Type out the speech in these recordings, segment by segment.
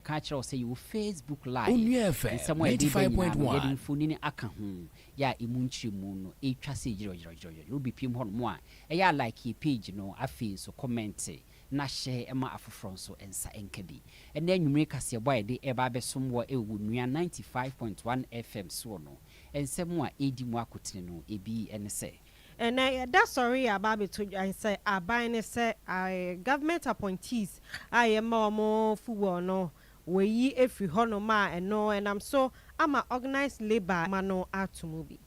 Ka kyerɛ wo sɛ yɛwɔ Facebook Live. Onua FM Nsɛm a ɛde reba nyinaa no, yɛde 95.1. mfonini aka ho, yɛ a emu nkyerɛmu no ɛretwa sɛ gyerɛgyerɛgyerɛgyerɛ. Wobɛpiem hɔnom a, ɛyɛ a like yɛn page no, afei nso kɔmɛnte na hyɛ ma afoforɔ nso nsa nka bi. Ɛnnɛ anwummere kaseɛbɔ a yɛde reba abɛsom wɔ Ewuonua 95.1 FM soɔ no, nsɛm a ɛredi mu akotene no, ebi ne sɛ. Ɛnnɛ yɛda sɔre yɛ aba abɛto dwan sɛ aban no sɛ government appointees a yɛma wɔn fuel no wɔayi afiri hɔnom a ɛno ɛnam so ama organised labour adwuma no ato mu bi.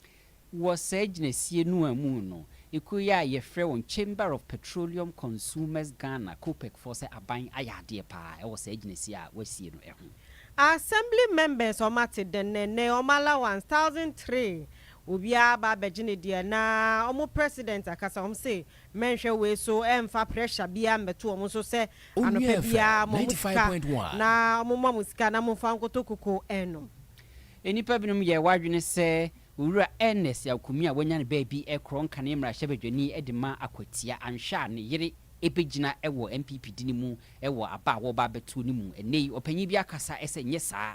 Wɔ saa gyinasie no ara mu no, ekuo yi a yɛfrɛ wɔn Chamber of Petroleum Consumers Ghana, COPEC, foɔ sɛ aban ayɛ adeɛ pa ara wɔ saa gyinasie a wɔasie no ho. Assembly members wɔate dɛn na ɛnnɛ wɔn allowance thousand three Obiara ba bɛgye ne deɛ na ɔmo president akasa ɔmo se mɛnhwɛ wei so ɛnfa pressure biaa mbɛto ɔmo so sɛ anɔpa biaa ma ɔmo sika na ɔmo ma mo sika na monfa nkɔtɔ koko ɛnom. Nnipa binom yɛ wɔ adwene sɛ Owura Ernest Awkomii a wanya ne baabi rekorɔ nkane mmarahyɛbadwani de ma Akwatia anhwɛ a ne yere bɛgyina wɔ NPP de no mu wɔ aba a wɔreba abɛto no mu ɛnnɛ yi. Ɔpanyin bi akasa sɛ nyɛ saa.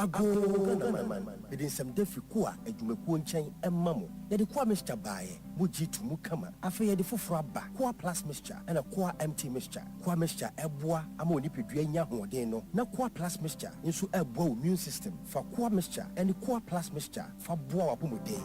Agoo Ghanaman, mede nsɛm da fi Koa adwumakuo nkyɛn ma mo. Yɛde Koa mixture baeɛ, mo gye to mu kama. Afei yɛde foforɔ aba, Koa Plus mixture ɛna Koa MT mixture. Koa mixture ɛboa ama wo nipadua nya ahoɔden no, na Koa Plus mixture nso ɛboa wo immune system. Fa Koa mixture ɛne Koa Plus mixture. Fa boa w'apɔmuden.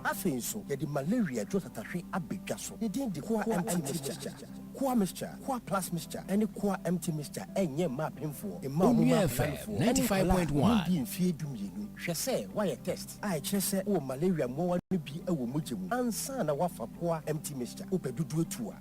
Afei nso, yɛde malaria dwo tatahwe aba dwa so. Ne din de Koa Empty Mixture. Koa Mixture, Koa Plus Mixture, ne Koa Empty Mixture renyɛ mma apemfoɔ, mma wɔn mma akananifoɔ, ne nkwadaa a wɔn dii mfeɛ du mmienu. Hwɛ sɛ woayɛ test a ɛkyerɛ sɛ wowɔ malaria mmoawa no bi wɔ mogya mu ansa na woafa Koa Empty Mixture. Wopɛ dodoɔ tu a.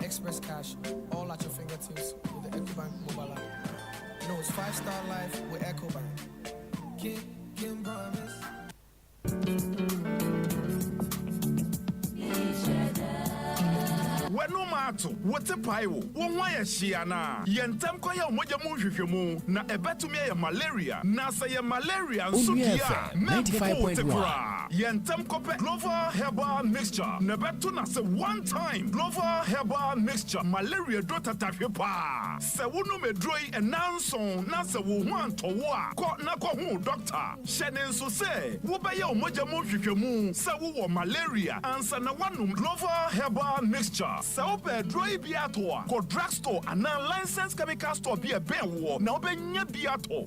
Express Cash, all at your fingertips with the Ecobank mobile app. No, it's five star life with Ecobank. King, King promise. w'anom ato wo te pae wo wo ho ayɛ hyee anaa yɛ ntɛm kɔyɛ wo mogya mu nhwehwɛmu na ɛbɛtumi ayɛ malaria na sɛ yɛ malaria nso deɛ a na ɛpopo wo te koraa. Yɛ ntɛm kɔpɛ Gloval herbal mixture na bɛto no ase one time. Gloval herbal mixture malaria aduro tatahwe paa. Sɛ wonom aduro yi nnanson na sɛ wo ho antɔ wo a, kɔ na kɔhu wo dɔkta. Hyɛ ne nso sɛ wobɛyɛ wo mogya mu nhwehwɛmu sɛ wowɔ malaria ansa na woanom Gloval herbal mixture. Sɛ wopɛ aduro yi bi atɔ a, kɔ drug store anaa licensed chemical store bi a ɛbɛn woɔ na wobɛnya bi atɔ.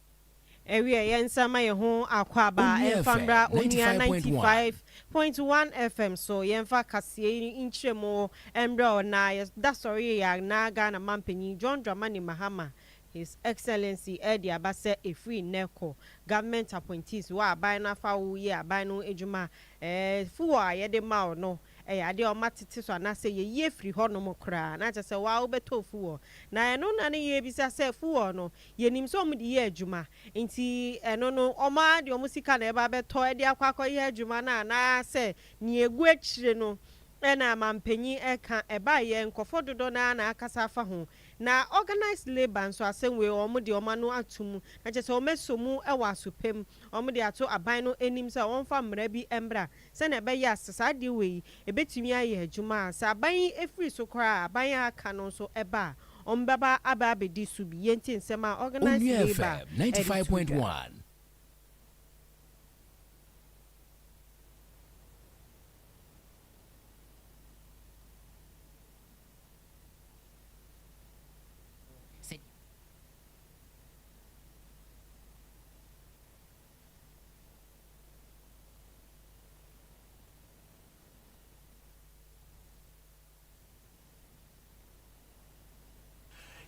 Ɛwiɛ yɛn nsa ma yɛn ho akwaaba ɛnfa mmra Onua ninety five point one FM so yɛnfa kaseɛ yi nkyerɛmu mmrɛ ɔna yɛdasɔre yɛ yɛn na Ghana Mampanyin John Dramani Mahama His Excellency ɛde aba sɛ ɛfiri nnɛ kɔ Government Appointees wɔ aban no afa wo yɛ aban no adwuma ɛɛ fuɔ a yɛde ma wo no ɛyɛ adeɛ a wɔma tete so anaasɛ yɛyie firi hɔnom koraa na kyerɛ sɛ wo ara wobɛtɔ fuwɔ. Na ɛno na ne yɛrebisa sɛ fuwɔ no yɛnim sɛ wɔde yɛ adwuma nti ɛno no wɔn ara de wɔn sika na ɛba abɛtɔ de akɔ akɔyɛ adwuma no anaasɛ deɛ ɛgu akyire no na manpanin ɛka ɛbaeɛ nkorɔfoɔ dodoɔ no ara na akasa afa ho. Na organised labour nso asɛm wei wɔn de wɔn ano ato mu na kyerɛ sɛ wɔasɔ mu wɔ asopɛ mu wɔde ato aban no anim sɛ wɔmfa mmara bi mmra sɛnea ɛbɛyɛ a sɛ saa adeɛ wei yi ɛbɛtumi ayɛ adwuma a, sɛ aban yi firi so koraa a, aban a aka no nso ba a, wɔbɛba aba abɛdi so bi. Yei nti nsɛm a Organised Onua Labour FM ninety five ɛde to point dwa. one.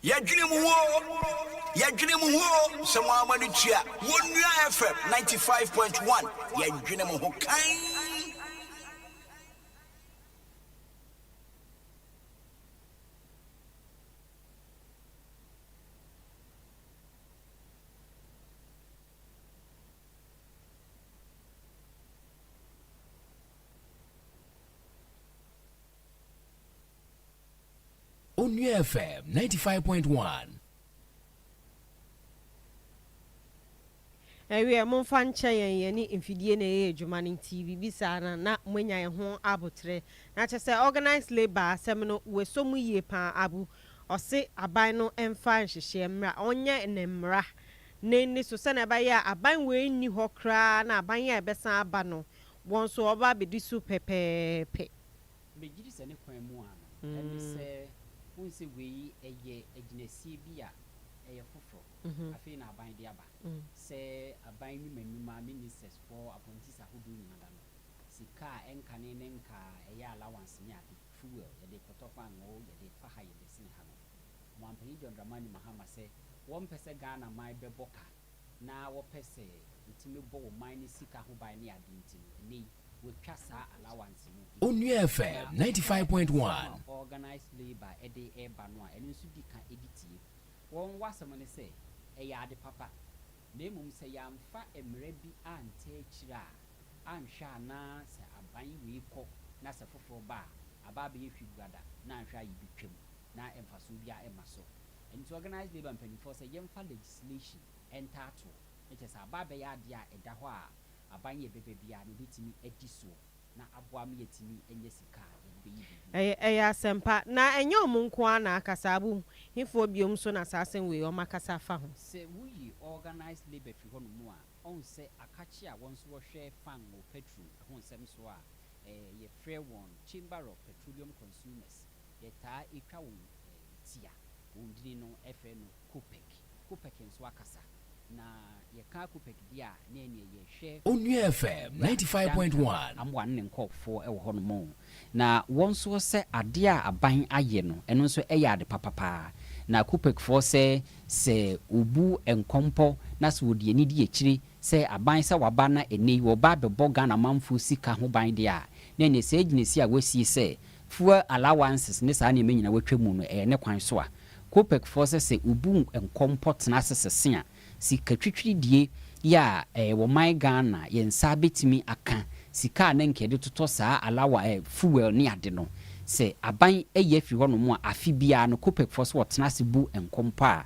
Yɛdwene mo ho o, yɛdwene mo ho o, sɛ mo ara mo ani tua, Wonua FM 95.1, yɛdwene mo ho kann. Onua FM 95.1. Ɛwiɛ, momfa nkyɛ yɛn, yɛne mfidie na ɛyɛ adwuma no nti biribi saa no na moanya ɛho aboterɛ. Na kyerɛ sɛ organised labour asɛm no wɔsɔ mu yie paa Abu ɔse aban no mfa nhyehyeɛ mmra ɔnyɛ ne mmra Ne nne so sɛnea ɛbɛyɛ a aban wei nni hɔ koraa na aban a ɛbɛsan aba no, wɔn nso wɔbɛba abedi so pɛpɛɛpɛ. Megye di sɛ ne kwan mu ara no, ɛne sɛ wohu sɛ wei yɛ agyinasie bi a ɛyɛ foforo, afei na aban de aba. Sɛ aban nnwuma nnwuma, ministers foɔ, appointees ahodoɔ nyina da no, sika a ɛnkane ne nkaa a ɛyɛ allowance ne ade, fuel, yɛde kɔtɔ paanoo, yɛde fa ha, yɛde sene ha no, Ɔmanpanyin John Dramani Mahama sɛ wɔmpɛ sɛ Ghana man bɛbɔ ka na wɔpɛ sɛ wɔtumi bɔ wɔn man no sika ho ban ne ade nti no, ɛnnɛ yi wɔatwa saa allowance no ho. Onua FM Ɛna ninety five ɛyɛ point asɛm a one. organised labour ɛde reba no a ɛno nso di ka ɛdi tie. Wɔn w'asɛm ne sɛ ɛyɛ ade papa na mmom sɛ yɛamfa mmara bi antaa akyire a, anhwɛ a na sɛ aban wei kɔ na sɛ foforɔ ba a, aba abɛyɛ hwiguada na anhwɛ a yɛbɛtwam. na mfasoɔ biara mma so. Ɛno nti organised labour mpanimfoɔ sɛ yɛmfa legislation ntaa toɔ, na kyerɛ sɛ aba abɛyɛ adeɛ a ɛda hɔ a aban yɛ bɛba biara no ɔbɛtumi adi soɔ na aboa ma yɛatumi anya sika a yɛde bɛyɛ biribi. Ɛyɛ ɛyɛ asɛm pa. Na ɛnyɛ wɔn nko ara na akasa, wohu, hefoɔ bio nso na saa asɛm wei wɔakasa afa ho? Sɛ woyi organised labour firi hɔnom a, ɔhu sɛ akakye a wɔn nso wɔhwɛ fangoo, petrol, ho nsɛm soɔ a, ɛɛ yɛfrɛ wɔn Chamber of Petroleum Consumers, Yɛtaa twa wɔn ti a, wɔn din no frɛ no Kopek. Kopek nso akasa, na yɛka Kopek deɛ a, na ɛneɛ yɛhwɛ. Onua FM ninety five point one. Amoah ne ne nkorɔfoɔ wɔ hɔnom o. Na wɔn nso sɛ adeɛ a aban ayɛ no, ɛno nso ɛyɛ ade papa pa ara. Na Kopekfoɔ sɛ, sɛ wɔbu nkɔmpɔ na sɛ wɔde ani di akyire sɛ aban sɛ waba na ɛnnɛ yi wɔreba abɛbɔ Ghana manfoɔ sika ho ban deɛ a, na ɛneɛ saa gyinasie a wɔasie sɛ Fuel allowances ne saa nneɛma nyinaa wɔatwa mu no, ɛyɛ ne kwan so a, Copecfoɔ sɛ sɛ wobu nkɔmpɔ tena ase sese a, sika twitwiridie yɛ a, ɛɛ wɔman Ghana, yɛn nsa bɛtumi aka sika a na nka yɛde totɔ saa allowa ɛɛ fuel ne ade no. Sɛ aban ayi afiri hɔnom a, afe biara no, Copecfoɔ sɛ wɔtena ase bu nkɔmpɔ a,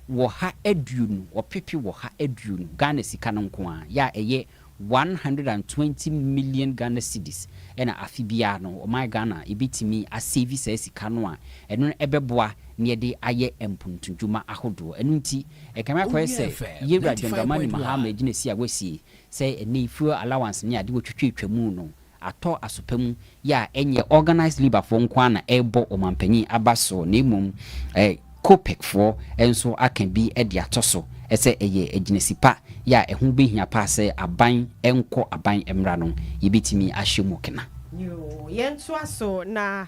wɔha aduonu, ɔpepe wɔha aduonu Ghana sika no nko ara, yɛ a ɛyɛ one hundred and twenty million Ghana cedis na afe biara no ɔman Ghana ɛbɛtumi asɛvi saa sika no a ɛno no ɛbɛboa na yɛde ayɛ mpontudwuma ahodoɔ. Ɛno nti ɛkame akɔyɛ sɛ Yɛwura John Dramani Mahama agyinasie a wasie sɛ ɛnnɛ yi fuel allowance ne adeɛ wɔtwitwatwa mu no atɔ asopa mu yɛ a ɛnyɛ organised labour foɔ nko ara na ɛrebɔ ɔmanpanyin aba so na mmom eh, COPEC foɔ nso aka bi de ato so sɛ ɛyɛ agyinasi pa yɛ a ɛho bɛhia paa sɛ aban nkɔ aban mmra no yɛbɛtumi ahyɛ mu kena. Yoo, yɛntoa so na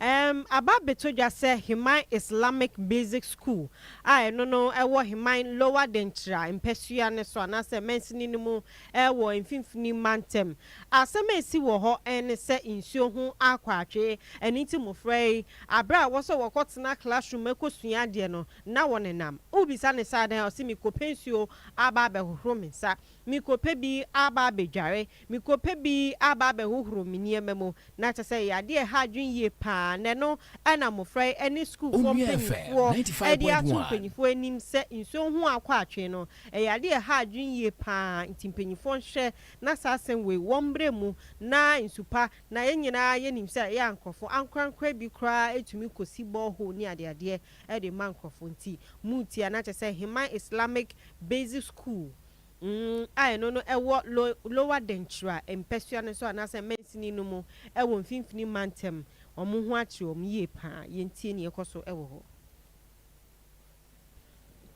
ɛɛm aba abɛtɔ dwa sɛ Heman Islamic Basic School a ɛno no ɛwɔ Heman Lower Denkyira mpasua no so anaasɛ mansini no mu wɔ Mfimfini Mantam. Asɛm a esi wɔ hɔ ne sɛ nsuo ho akwaatwe. Ɛno nti mmofra yi, bere a ɛwɔ sɛ wɔkɔtena classroom kosua adeɛ no, na wɔnenam. Wobisa no sɛ adɛn a, ɔse mekɔpɛ nsuo aba abɛhohoro me nsa, mekɔpɛ bi aba abɛdware, mekɔpɛ bi aba abɛhohoro me nneɛma mu. Na kyerɛ sɛ ɛyɛ adeɛ a ɛha adwene yie pa ara, na ɛno na mmɔfra yi ne sukuufoɔ mpanimfoɔ de ato mpanimfoɔ anim sɛ nsuo ho akwaatwe no, ɛyɛ adeɛ a ɛha adwene yie pa ara, nti mpanimfoɔ nhwɛ na saa asɛm wei wɔmmrɛ mu na nsu pa, na yɛn nyinaa yɛnim sɛ ɛyɛ a nkurɔfoɔ ankorankora bi koraa tumi kɔsi borehole ne adeadeɛ de ma nkurɔfoɔ, nti moretia, na kyerɛ sɛ Heman Islamic Basic School Nn a ɛno no wɔ lo lower denkyira mpasua no so anaasɛ mansini no mu wɔ mfimfini mantam. Wɔn ho akyere wɔn yie pa ara. Yɛntie nea ɛkɔ so wɔ hɔ.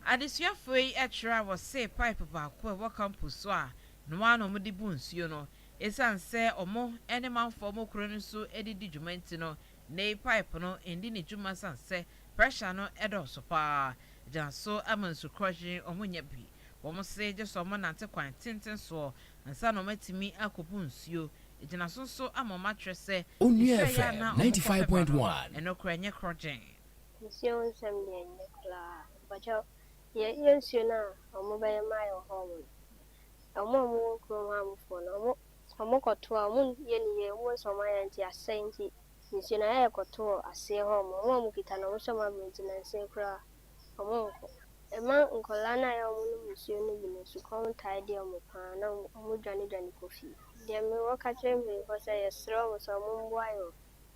Adesuafoɔ yi tra wɔ see pipe baako a ɛwɔ campus so a ɛno ara na wɔde bu nsuo no. Ɛsiane sɛ wɔn ne manfoɔ mu koro no nso de di dwuma nti no, Nnɛyi paep no ndi ne dwuma san sɛ pressure no dɔɔso paa. Gyan so ama nsu krɔhyen wɔn nnya bi. Wɔn se gye sɛ wɔn nante kwan tenten soɔ ansa na wɔn atumi akobu nsuo. Egyina so nso ama wɔn akyerɛ sɛ Onua FM ninety five point one. Ɛno koraa nyɛ krɔgyen. Nsuo ho nsɛm deɛ ɛnyɛ koraa. Mpakyɛw yɛ yɛ nsuo no a wɔn bɛyɛ ma yɛ wɔ hɔ nom no. Wɔn a wɔn wɔ kuro ho a wɔn foɔ no wɔn Sɛ ɔmo kɔ to a ɔmo nyɛ ne yie ɔmo sɛ ɔmo ayɛ nti asɛe nti nsuo no ayɛ ɛkɔ to wɔ aseɛ hɔ nom ɔmo a ɔmo kita no ɔmo sɛ ɔmo abrɛ nti nansa koraa ɔmo nkɔ ɛma nkɔlaa no a ɛyɛ ɔmo nom nsuo no bi no sukɔm tae de ɔmo paa na ɔmo dwane dwane kɔ fie deɛ me wɔ ka kyerɛ mpanyinfoɔ sɛ yɛsrɛ ɔmo sɛ ɔmo mboa yɛ wɔ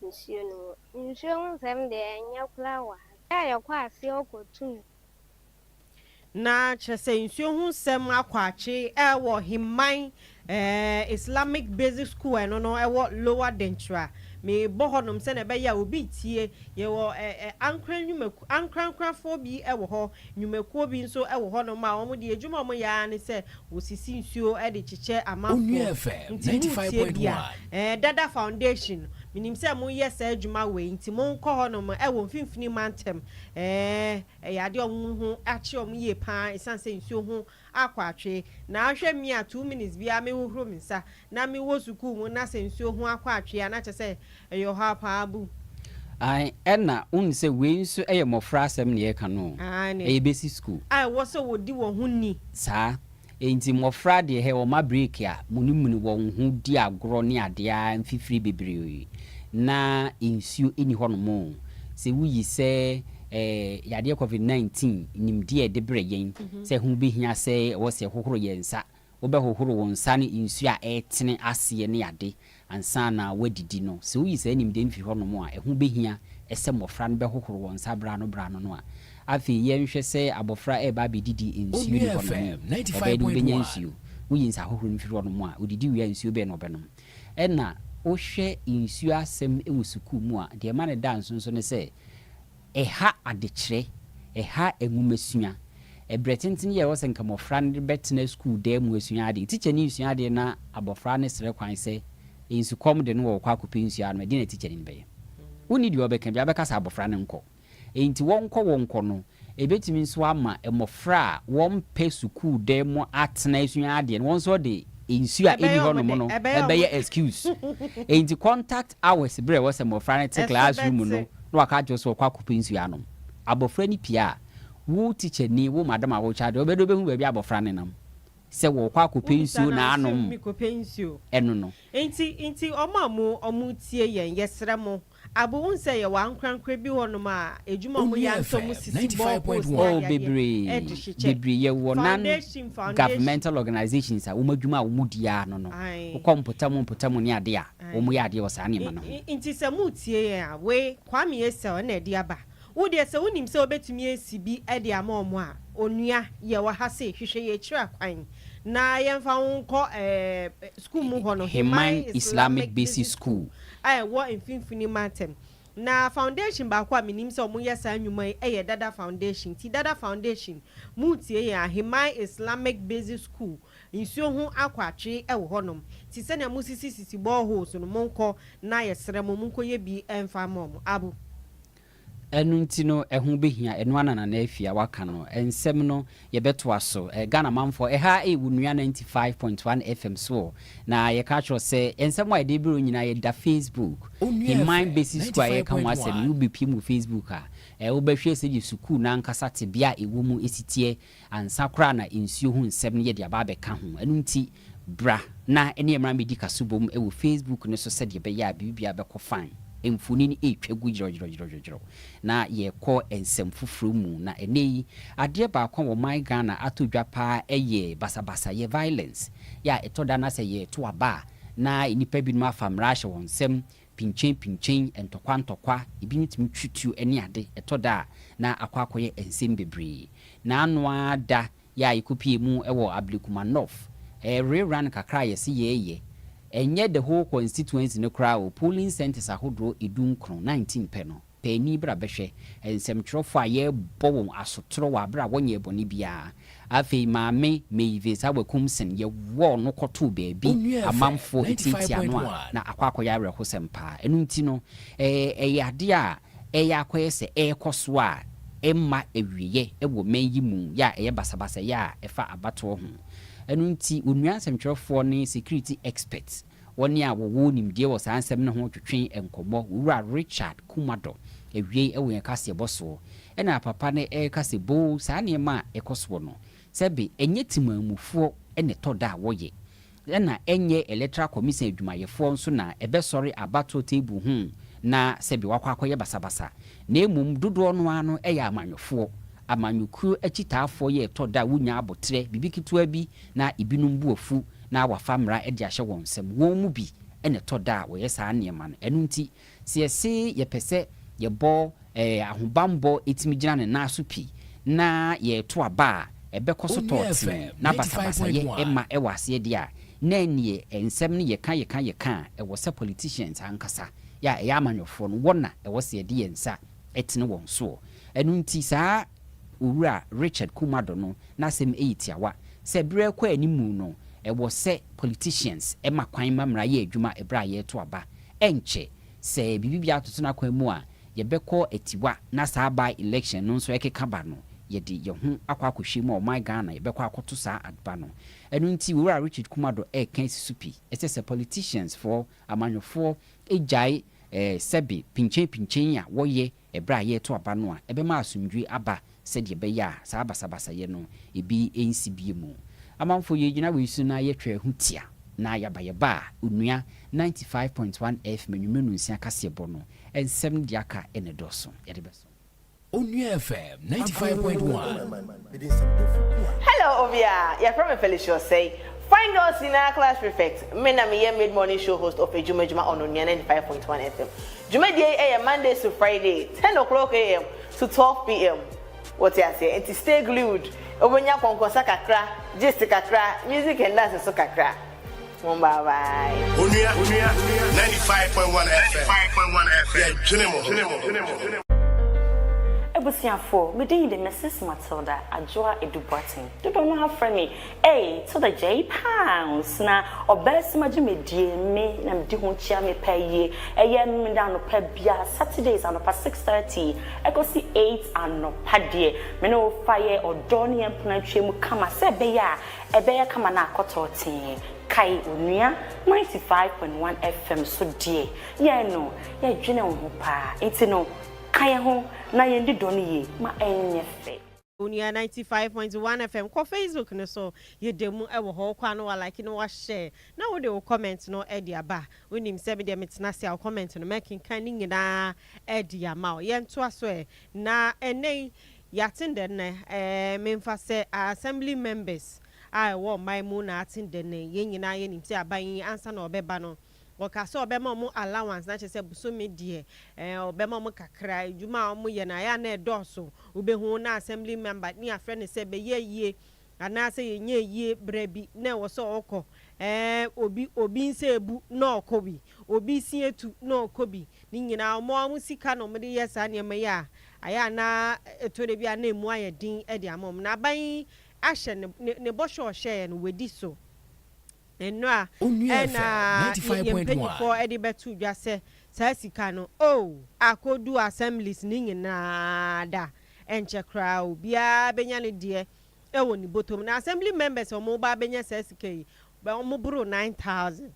nsuo no ho. Nsuo ho nsɛm deɛ ɛnyɛ koraa wɔ ha. Yɛ a yɛkɔ aseɛ ɔkɔ to no Na kyerɛ sɛ nsuo ho nsɛm akɔ akye wɔ Hemman Islamic Basic School a ɛno no ɛwɔ Lower Denkyira. Mebɔ hɔnom sɛdeɛ ɛbɛyɛ a obi retie. Yɛwɔ Ankorankran nnwumakuo, Ankorankranfoɔ bi wɔ hɔ, nnwumakuo bi nso wɔ hɔnom a wɔn deɛ adwuma a wɔyɛ ara ne sɛ wɔsisi nsuo de kyekyɛ amanfoɔ. Onua FM Nti ninety five motie point bi a, one. ɛɛ Dada Foundation, menim sɛ moyɛ saa adwuma wei, nti monkɔ hɔnom wɔ Mfimfini Mantam, ɛɛ. Ɛyɛ adeɛ a wɔn ho akyere wɔn yie pa ara ɛsiane sɛ nsuo ho akɔ atwe. Na hwɛ me a two minutes biara me hohoro me nsa. Na me wɔ sukuu mu na sɛ nsuo ho akɔ atwe a na kyerɛ sɛ ɛyɛ ɔhaw pa ara bu. Aane, ɛna wonim sɛ wei nso yɛ mmɔfra asɛm na yɛreka no o. Aane. Ɛyɛ basic school. A ɛwɔ sɛ wɔdi wɔn ho ni. Saa. Enti mmɔfra deɛ hɛ wɔma break a munimuni wɔn ho di agorɔ ne adeɛ ara mfifire bebree na nsuo nni hɔnom o. Sɛ woyi sɛ ɛɛ yadeɛ covid 19 nimdeɛ a ɛde brɛ yɛn sɛ ho bɛhia sɛ ɛwɔ sɛ yɛhohoro yɛn nsa, wobɛhohoro wo nsa ne nsuo a ɛretene aseɛ ne ade Ansa na wɔadidi no, sɛ woyi saa nimdeɛ no fi hɔnom a, ɛho bɛhia sɛ mmɔfra no bɛhohoro wɔn nsa berɛ ano berɛ ano no a. Afei yɛnhwɛ sɛ abɔfra reba abɛdidi nsuo nni hɔnom o, ɔbɛyɛ dɛ ɔbɛnya nsuo. Woyi nsahohoro no firi hɔnom a, ɔdidi wie a, nsuo bɛn na ɔbɛnom? Ɛnna wohwɛ nsuo asɛm wɔ sukuu mu a, deɛ ɛma no da nso nso ne sɛ, Ɛha adekyerɛ, ɛha nwomasua. Ɛberɛ tenten yi a ɛwɔ sɛ nka mmɔfra no bɛtena sukuu dan mu asua adeɛ, tikyani resua adeɛ na abɔfra no srɛ kwan sɛ nsukɔm de no wɔ ɔkɔ akɔpɛ nsuo ano, ɛdeɛ na tikyani no bɛyɛ? Wonni deɛ ɔbɛka biara, ɔbɛka sɛ abɔfra no nkɔ. Enti wɔnkɔ wɔnkɔ no, ɛbɛtumi nso ama mmɔfra a wɔmpɛ sukuu dan mu atena asua adeɛ no, wɔn nso wɔde nsuo a ɛnni hɔ nom no bɛyɛ excuse. Enti contact. Hours berɛ a ɛwɔ sɛ mmɔfra no te class room mu no na waka akyerɛ wo sɛ wɔkɔ akɔpɛ nsuo anom. Abɔfra no pie a, wo teacher ni, wo madam a wo charge, ɔbɛyɛ dɛ ɔbɛhu baabi a abɔfra no nam sɛ wɔkɔ akɔpɛ nsuo na anom ɛno no. Nti nti wɔn a mo wɔn tie yɛn yɛsrɛ mo abo wohu sɛ yɛwɔ ankorankora bi hɔ nom a adwuma a wɔn yɛ ansa wɔn sisi boreholes ne adeadeɛ bebree de hyekyɛ bebree yɛwɔ nan foundation foundation governmental organisations a wɔn adwuma a wɔn di ara no no ae wokɔ mpɔtam mpɔtam ne adeɛ a wɔyɛ adeɛ wɔ saa nneɛma no ho. Nti sɛ moretie yɛn a, we, Kwame Asel, na ɛde aba. Wo deɛ sɛ wonim sɛ wobɛtumi asi bi de ama wɔn a, onua, yɛwɔ ha se, hwehwɛ yɛn akyiri akwan, na yɛmfa wo nkɔ sukuu mu hɔ no, Heman Islamic Basic School a ɛwɔ Mfimfini Mantam. Na foundation baako a menim sɛ wɔyɛ saa nnwuma yi yɛ Dada Foundation. Nti Dada Foundation, moretie yɛn a, Heman Islamic Basic School, Nsuo ho akɔ atwee ɛwɔ hɔ nom te sɛnea mo sisi sisi bore holes no monkɔ na yɛ srɛ mo monkɔ yɛ bi ɛnfa ama ɔmo abo. Ɛno nti no ɛho bɛhia ɛno ana Nana Afia waka no nsɛm no yɛbɛtoa so eh Ghana manfoɔ ɛha ɛyɛ wo nua 95.1 FM so o na yɛka akyerɛ wo sɛ ɛnsɛm a yɛde brɛ wo nyinaa yɛda Facebook Heman Basic School a yɛreka ho asɛm no wobɛpiem wɔ Facebook a eh wobɛhwɛ sɛdeɛ sukuu no ankasa tebea a ɛwɔ mu ɛsiteɛ Ansa koraa na nsuo ho nsɛm no yɛ de aba abɛka ho. Ɛno nti, bra na ɛne mmra mmɛdi kaso bom wɔ Facebook no so sɛdeɛ ɛbɛyɛ a biribiara bɛkɔ fine. Mfonin retwa gu dworɔdworɔdworɔ, na yɛrekɔ nsɛm foforɔ mu. Na ɛnnɛ yi, adeɛ baako a wɔ man Ghana atɔ dwa pa ara yɛ basabasayɛ, violence, yɛ a ɛtɔ da na sɛ yɛreto aba a, na nnipa binom afa mmara ahyɛ wɔn nsam Pinkyen pinkyen, ntɔkwa ntɔkwa, ebi no tumi twi tuo ne ade, ɛtɔ da a na akɔ akɔyɛ nsɛm bebree. Na ano ara da yɛ a yɛkɔ pie mu wɔ Ablekuma North, ɛyɛ re run kakra a yɛse yɛɛyɛ, ɛnyɛ the whole constituency no koraa o, polling centres ahodoɔ edu nkron, nineteen pɛ no. Paani bra bɛhwɛ nsɛmtwerɛfoɔ a yɛrebɔ wɔn asotorɔ wɔ aberɛ a wɔnyɛɛ bɔne biara. Afei maame Mavis Awakumson yɛwɔɔ no kɔtoo baabi amanfoɔ ɛtiatia no a na akɔ akɔyɛ awerɛhosɛm paa. Ɛno nti no ɛyɛ adeɛ a ɛreyɛ akɔyɛ sɛ ɛrekɔ so a ɛmma awieɛ wɔ mɛn yi mu yɛ a ɛyɛ basabasayɛ a ɛfa abatoɔ ho. Ɛno nti onua nsɛmtwerɛfoɔ ne security experts Wɔne a wɔwɔ nimdeɛ wɔ saa nsɛm no ho twetwe nkɔmmɔ. Owura Richard Kumado wiei wɔ yɛn kaseɛbɔ soɔ. Ɛna papa no reka sɛ, Boo, saa nneɛma a ɛkɔ soɔ no, sɛ be, ɛnyɛ temanmufoɔ na ɛtɔ da a wɔyɛ. Ɛna ɛnyɛ Electoral Commission adwumayɛfoɔ nso na ɛbɛsɔre abatoɔ table ho na sɛ be wɔakɔ akɔyɛ basabasa. Na mmom dodoɔ no ara no yɛ amanyɔfoɔ. Amanyɔkuo akyitaafoɔ yɛ ɛtɔ da a wonya aboterɛ, biribi ketewa bi na ebinom bo afu na wɔafa mmara de ahyɛ wɔn nsam. Wɔn mu bi na ɛtɔ da a wɔyɛ saa nneɛma no. Ɛno nti, sɛ yɛse yɛpɛ sɛ yɛbɔ ahobammɔ tumi gyina ne nan so pi na yɛreto aba a ɛbɛkɔ so tɔ tee na basabasayɛ mma ɛwɔ aseɛ deɛ a, na ɛnneɛ nsɛm no yɛka yɛka yɛka a ɛwɔ sɛ politicians ankasa a ɛyɛ amanyɔfoɔ no wɔn na ɛwɔ sɛ yɛde yɛn nsa tene wɔn soɔ. Ɛno nti saa Owura Richard Kumado no n'asɛm yi tiawa sɛ berɛ rekɔ animu no ɛwɔ sɛ politicians ma kwan ma mmara yɛ adwuma berɛ a yɛreto aba. Ɛnkyɛ, sɛ biribi biara toto no akwan mu a, yɛbɛkɔ atiwa na saa by election no nso ɛkeka ba no, yɛde yɛn ho akɔ akɔhwie mu a ɔman Ghana yɛbɛkɔ akɔto saa adba no. Ɛno nti Owura Richard Kumado reka asi so pi sɛ sɛ politicians foɔ Amanyɔfoɔ gyae sɛbe pinkyenpinkyen a wɔyɛ ɛberɛ a yɛreto aba no a ɛbɛma asomdwoeɛ aba sɛdeɛ ɛbɛyɛ a saa basabasayɛ no ebi nsi bio mu. Amanfoɔ yɛn gyina wei so na yɛtwaa ho tia na yɛaba yɛba a onua ninety five point one F Manyumenu Nsia Kaseɛbɔ no nsɛm deɛ aka na ɛdɔɔso. Yɛde bɛsom. Onua FM 95.1. Hello obia, yɛfrɛ me Felicia Osei, Fine Girls nyinaa class prefect, me na meyɛ mid morning show host of Adwuma Adwuma on Onua 95.1 FM. Dwumadie yi ɛyɛ Mondays to Friday 10 o'clock AM to 12 PM. Wote aseɛ? Nti stay glued, wobɛnya kɔnkɔnsa kakra, gist kakra, music and dance nso kakra. Mo bye bye. Onua, onua, 95.1 FM, 95.1 FM, yɛ dwene mo, dwene mo, dwene mo, dwene mo. Abusuafoɔ, me din de Mrs Matilda Adwoa Adu Boateng, dodoɔ no ara frɛ me Ei, Tilda J Pounds, na ɔbɛasima dwumadie me na medi ho kyia me pɛ yie, ɛyɛ me da anɔpa biara, Saturdays anɔpa 6:30 ɛkɔsi 8 anɔpa deɛ, me ne wo fa yɛ ɔdɔ ne yɛn mpena atwam kama sɛ ɛbɛyɛ a Ɛbɛyɛ kama na akɔtɔɔ tee. Kae onua 95.1 FM so deɛ yɛn no yɛdwene wo ho paa nti no ka yɛn ho na yɛn di dɔ no yie ma ɛnyɛ fɛ. Onua 95.1 FM kɔ facebook no so yɛda mu wɔ hɔ wokɔ a na wa like na wa share na wo de wo comment no de aba wo nim sɛ me deɛ me tena ase a wo comment no mɛkenkan ne nyinaa de ama wo yɛntoa so ɛ na ɛnɛ yi Yɛate ndɛ nnɛ ɛɛ memfa sɛ Assembly members a ɛwɔ ɔman mu na ate ndɛ nnɛ yi. Yɛn nyinaa yɛnim sɛ aban yi ansa na ɔbɛba no ɔkaa sɛ ɔbɛma wɔn allowance na kyerɛ sɛ bosome deɛ ɛɛ ɔbɛma wɔn kakra. Adwuma a wɔyɛ no ayɛ a na ɛdɔɔso. Wobɛhu na Assembly member ne yɛafrɛ no sɛ bɛyɛ ayie Anaasɛ yɛnyɛ yie berɛ bi na ɛwɔ sɛ ɔkɔ ɛɛ obi obi nsa abu na ɔkɔ bi obi se atu na ɔkɔ bi ne nyinaa wɔn a wɔn sika na wɔde yɛ saa nneɛma yi a ayɛ a na ɛtɔ da bi a na ɛmu ayɛ den de ama wɔn na aban yi ahyɛ ne ne ne bɔhyɛ a ɔhyɛeɛ no wadi so nnora ɛna yɛ yɛn mpanimfoɔ de bɛto dwa sɛ saa sika no oh akɔdu assemblies ne nyinaa da ɛnkyɛ koraa obiara bɛnya ne deɛ. wɔ ne bɔtɔ mu na assembly members a wɔreba abɛnya saa sika yi wɔboro nine thousand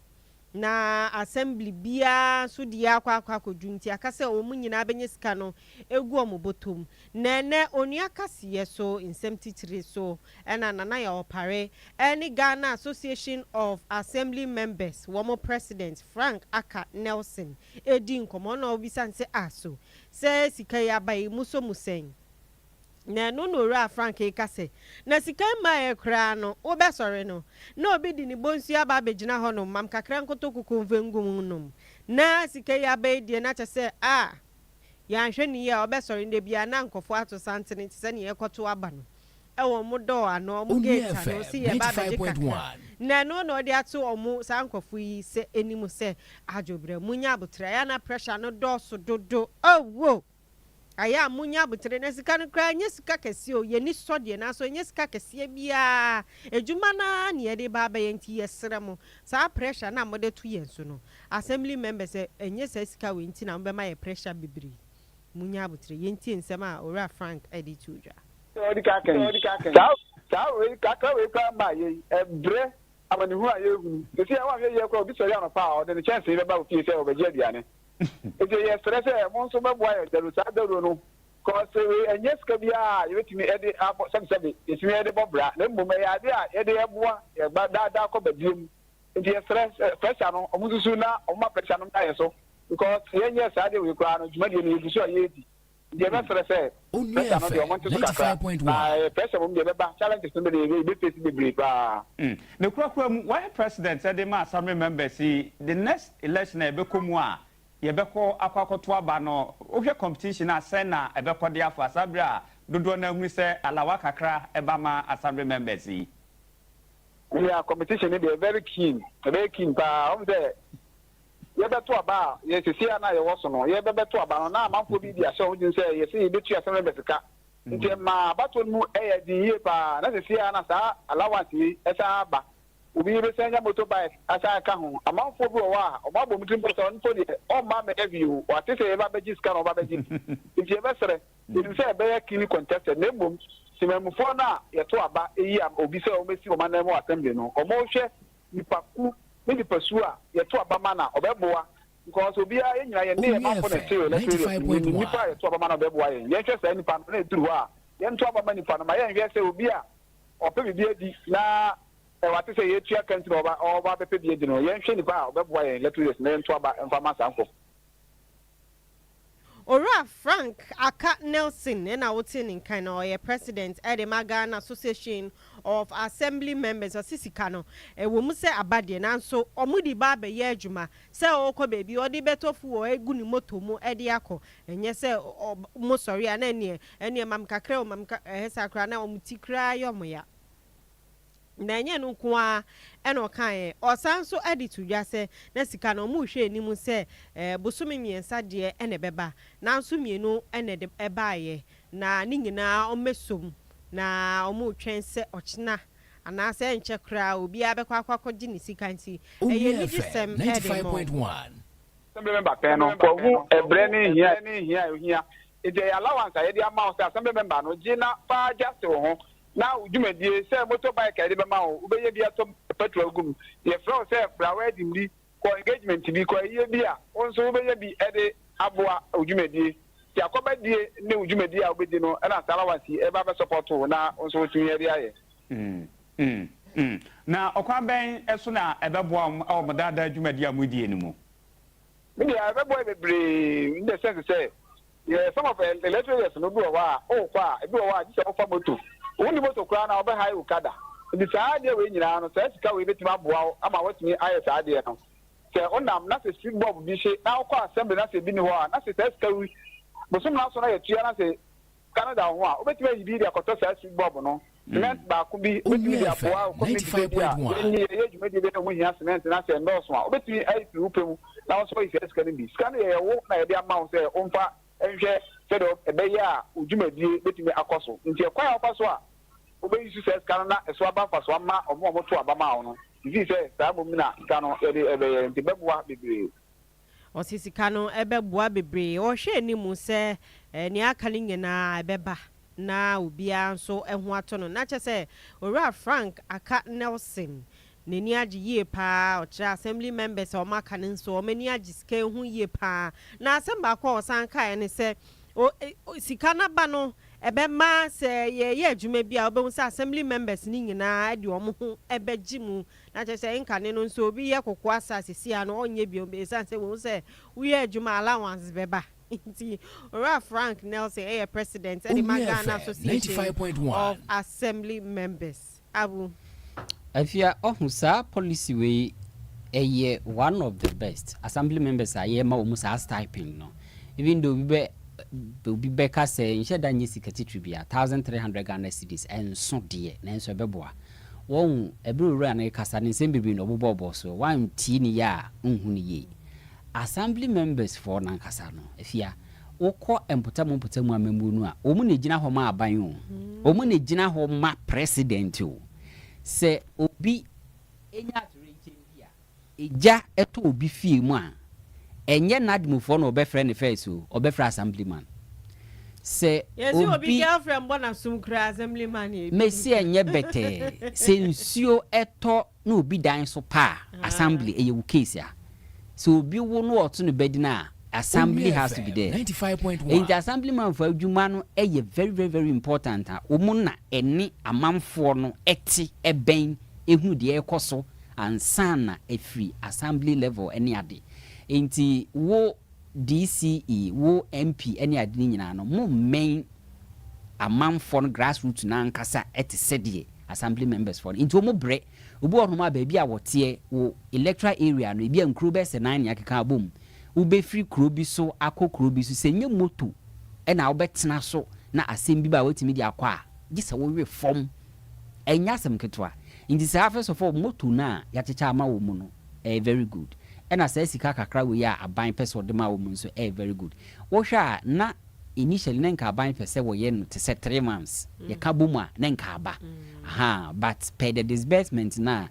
na assembly biara nso deɛ akɔ akɔ akɔdwo nti aka sɛ wɔn nyinaa bɛnya sika no ɛgu wɔn bɔtɔ mu na ɛnɛ Onua Kaseɛ so nsɛm titire so na Nana Yaw Opare ne Ghana Association of Assembly Members wɔn President Frank Aka Nelson redi nkɔmmɔ na ɔbisa no sɛ ah so sɛ sika yi aba yi mosɔ mu sɛn? Na ɛno na Owura Frank reka sɛ, Na sika mmaa ɛ koraa no, wobɛsɔre no, na obi de ne bɔnsu aba abɛgyina hɔnom ma me kakra nkotokuku mfa ngu mu nnom, na sika yi aba yi deɛ na kyerɛ sɛ, ah, yɛanhwɛ no yie a, ɔbɛsɔre nnɛ biara na nkurɔfoɔ ato santene te sɛ deɛ yɛrekɔto aba no wɔ wɔn dɔɔ ano, wɔn gate ano, sɛ yɛreba abɛgye kakra. Na ɛno na ɔde ato wɔn, saa nkurɔfoɔ yi, sɛ anim sɛ, Adwobrɛ, monnya aboterɛ, ɛyɛ a na pressure no dɔɔso dodo, oh, oh! Ayɛ a monya aboterɛ na sika no koraa ɛnyɛ sika kɛseɛ o, yɛn ani sɔ deɛ nanso ɛnyɛ sika kɛseɛ biara, adwuma no ara na yɛde ba abɛyɛ nti yɛsrɛ mo saa pressure no a mode to yɛn so no assembly members ɛnyɛ saa sika wei nti na mobɛma yɛn pressure bebree, monya aboterɛ. Yɛntie nsɛm a Owura Frank de too dwa. Sɛ ɔde ka kan yi, saa saa wei kakra wei koraa mmaa yɛn ɛbrɛ amanehunu a yɛrehunu. Seesei a wɔanyɛ yiɛ koraa a obi sɔre anɔpa a ɔde ne kyɛnsee bɛba wo fie sɛ ɔrebɛgye aduane. Enti yɛsrɛ sɛ mo nso mɛboa yɛn dawuro. Saa dawuro no, cos wei ɛnyɛ sika biara a yɛbɛtumi ɛde abɔ sɛbesɛbe yɛtumi ɛde bɔ bra, na mmom ɛyɛ adeɛ a yɛde ɛboa yɛn ba daa daa kɔ badie mu. Enti yɛsrɛ sɛ pressure no wɔn nsusu na wɔn ma pressure no mmra yɛn so, because yɛnyɛɛ saa adeɛ wei koraa no dwumadie no yɛgu so a yɛredi. Deɛ ɛbɛ serɛ sɛ pressure no deɛ ɔmo nte so kakra na pressure mmom deɛ ɛbɛba challenges no bɛdeɛ yɛ yɛbɛ face bebree paa. Mm ne kura kura mu wayɛ president ɛde ma assembly members yi the next election a yɛbɛkɔ mu a yɛbɛkɔ akɔ akɔto aba no wohwɛ competition a sɛn na ɛbɛkɔ de afa saa bere a dodoɔ no ahunu sɛ alawa kakra ɛba ma assembly members yi. Yeah competition no deɛ very keen ɛbɛyɛ keen paa wɔn sɛ. yɛbɛto aba a yɛ seesei a na yɛwɔ so no, yɛbɛbɛto aba no, na amanfoɔ bi de ahyɛ wɔn tirim sɛ yɛse yɛbɛtua Asɛmrɛbɛ sika. Nti ɛmaa abatoɔ no mu yɛɛ den yie pa ara, na seesei a na saa allowance wei san aba, obi bɛsan anya motorbike asan aka ho. Amanfoɔ bi wɔ hɔ a, wɔabɔ wɔn tirim pa sɛ ɔno mpo deɛ, ɔmma ammɛda bio, wate sɛ yɛba bɛgye sika na wɔba bɛgye bi. Nti yɛbɛsrɛ, yɛnim sɛ ɛbɛyɛ keenly contested, na mmom, temanmufoɔ no a yɛto aba yi ama obi sɛ ɔmmɛsi wɔn ananmu wɔ Assembly no, wɔnhwɛ nipakuw ne nipasu a yɛto aba ma na ɔbɛboa because obiara yɛn nyinaa yɛn nneyɛe ma kɔ na ɛte na ɛte yɛ fi mu yɛnim nipa a yɛto aba ma na ɔbɛboa yɛn yɛnhwɛ saa nipa no na ɛduru hɔ a yɛnto aba ma nipa no ma yɛnhwɛ sɛ obi a ɔpɛ biribi adi na ɛwate sɛ yɛtua ka nti na ɔba ɔba bɛpɛ bi adi no yɛnhwɛ nipa a ɔbɛboa yɛn lɛtiri na yɛnto aba mfa ma saa nkurɔfo Owura Frank Aka Nelson na ɔte ne nkan na ɔyɛ President de ma Ghana Association of Assembly Members. Ɔse sika no ɛwɔ mu sɛ aba deɛ nanso wɔde ba abɛyɛ adwuma sɛ ɔɔkɔ baabi ɔde bɛtɔ fuel agu ne motor mu de akɔ ɛnyɛ sɛ wɔn sɔre a na ɛneɛ ɛneɛ ma me kakra o ma me ka ɛhɛ saa koraa na wɔn ti koraa yɛ wɔn ya. Na ɛnyɛ ɛno nko ara na ɔkaeɛ, ɔsan nso de to dwa sɛ na sika no wɔrehwɛ anim sɛ bosome mmiɛnsa deɛ na ɛbɛba, nanso mmienu na ɛde baeɛ, na ne nyinaa wɔasɔ mu, na wɔretwɛn sɛ ɔkyena anaasɛ ɛrenkyɛ koraa obiara bɛkɔ akɔ akɔgye ne sika nti, ɛyɛ anigyesɛm de ma wɔn. Assembly member pɛn no, Kwahu, ɛbrɛ ne hia a ɛhia, nti ɛyɛ allowance a yɛde ama wo sɛ Assembly member no gye na fa gya tew ho, na wo dwumadie sɛ motor bike a yɛde bɛma wo wobɛnya bi atɔ petrol agu mu yɛfrɛ wo sɛ fra wedding bi kɔ engagement bi kɔ ayie bi a wo nso wobɛnya bi de aboa wo dwumadie nti akɔba die ne wo dwumadie a wobɛdi no na saa allowance yi ɛba bɛ support wo na wo nso wotumi ɛde ayɛ. Na ɔkwan bɛn so na ɛbɛboa mo wɔ mo daadaa dwumadie a modie no mu? Me deɛ ɛbɛboa yɛ bebree in the sense sɛ Yɛ some of elect areas no bi wɔ hɔ a wokɔ a ebi wɔ hɔ a gye sɛ wofa moto wonni moto koraa no a wɔbɛ hire wo kada nti saa adeɛ wei nyinaa no saa sika wei bɛtumi aboa wo ama woatumi ayɛ saa adeɛ no sɛ wonam na sɛ street bob bi hye na wokɔ assembly na sɛ ebi nni hɔ a na sɛ saa sika wi bosom naso na yɛtua na sɛ sika no da wo ho a wobɛtumi ayi bi de akɔtɔ saa street bob no Cement baako bi betumi de aboa wo kɔ mintidua bi a yɛnnye yɛyɛ dwumadi bi a ɛho hia cement na sɛ ɛnnɔɔso a, wobetumi ayi firi wo pɛ mu na wo nso woayi saa sika no bi. Sika no yɛ wo na yɛde ama wo sɛ womfa nhwɛ sɛdeɛ ɛbɛyɛ a wo dwumadie betumi akɔ so. Nti ɛkwan a wofa so a wobeyi so saa sika no na ɛso aba mfasoɔ ama wɔn a wɔto aba maa wo no, gye sii sɛ saa mmom na sika no yɛde rebɛyɛ nti bɛboa bebree. Ɔse sika no ɛbɛboa bebree. Ɔhwɛ anim sɛ nea aka no nyinaa ɛbɛba na obiara nso ho atɔ no. Na kyerɛ sɛ Owura Frank Aka Nelson n'ani agye yie paa. Ɔkyerɛ Assembly members a wɔaka no nso wɔn ani agye sika yi ho yie paa. Na asɛm baako a ɔsan kaeɛ ne sɛ sika no aba no ɛbɛma sɛ yɛreyɛ adwuma bi a wobɛhu sɛ Assembly members no nyinaa de wɔn ho bɛgye mu Na kyerɛ sɛ nkane no nso obi yɛ koko asase si a no ɔnyɛ bio ɛsiane sɛ wɔhu sɛ woyɛ adwuma a allowance bɛba nti. Owura Frank Nelson yɛ President de ma Ghana Association of Assembly Members. Abu. Afia ɔho saa policy wei ɛyɛ one of the best assembly members a yɛma wɔn saa stipend no even though obi bɛ obi bɛka sɛ nhyɛ da nyɛ sika titiri bia thousand three hundred Ghana cedis ɛnso deɛ nanso ɛbɛboa Wɔn, ɛbere Owura no rekasa no nsɛm bebree na ɔbobɔɔbɔɔ so, woantie ne yɛ a wonhu no yie. Assembly members foɔ no ankasa no, afia, wokɔ mpɔtamu mpɔtamu amammuo no a, wɔn na ɛgyina hɔ ma aban o, wɔn na ɛgyina hɔ ma president o, sɛ obi nya atoyerɛnkyɛm bi a, Egya tɔ obi fie mu a, ɛnyɛ N'admfoɔ na ɔbɛfrɛ ne first o, ɔbɛfrɛ Assemblyman. Sɛ obi. Yɛse obi girlfriend bɔ n'asom kura a, Assemblyman na ɛdi ne so. Mese ɛnyɛ bɛtɛɛ. Sɛ nsuo tɔ na obi dan so pa a, Assembly, ɛyɛ wo case a. Sɛ obi wo na ɔto no badin a, Assembly has to be there. Enti Assemblymanfoɔ adwuma no yɛ very very very important a, wɔn na ɛne amanfoɔ no te bɛn. ɛhu deɛ ɛrekɔ so ansa na afiri assembly level ne ade. Nti wo DCE, wo MP ne ade no nyinaa no mo mmɛn amanfoɔ no grass root no ankasa te sɛdeɛ assembly members foɔ no. Nti wɔn brɛ. Obi wɔ hɔnom a baabi a wɔteɛ wo electoral area no ebi a nkuro bɛyɛ sɛ nan na akeka abɔ mu. Wo bɛfiri kuro bi so akɔ kuro bi so sɛ nyɛ moto na wo bɛtena so na asɛm bi ba a woatumi de akɔ a gye sɛ wo we fam Ɛnyɛ asɛm ketewa. Nti saa afei sɔfo moto no a yɛakyekyɛ ama wo mu no ɛyɛ very good. Ɛna saa sika kakra wei a aban pɛ sɛ ɔde ma wo mu nso ɛyɛ very good. Wohwɛ a na initially na nka aban pɛ sɛ wɔyɛ no te sɛ three months. Yɛka bom a na nka aba. Ahaa but per the disbursement no a.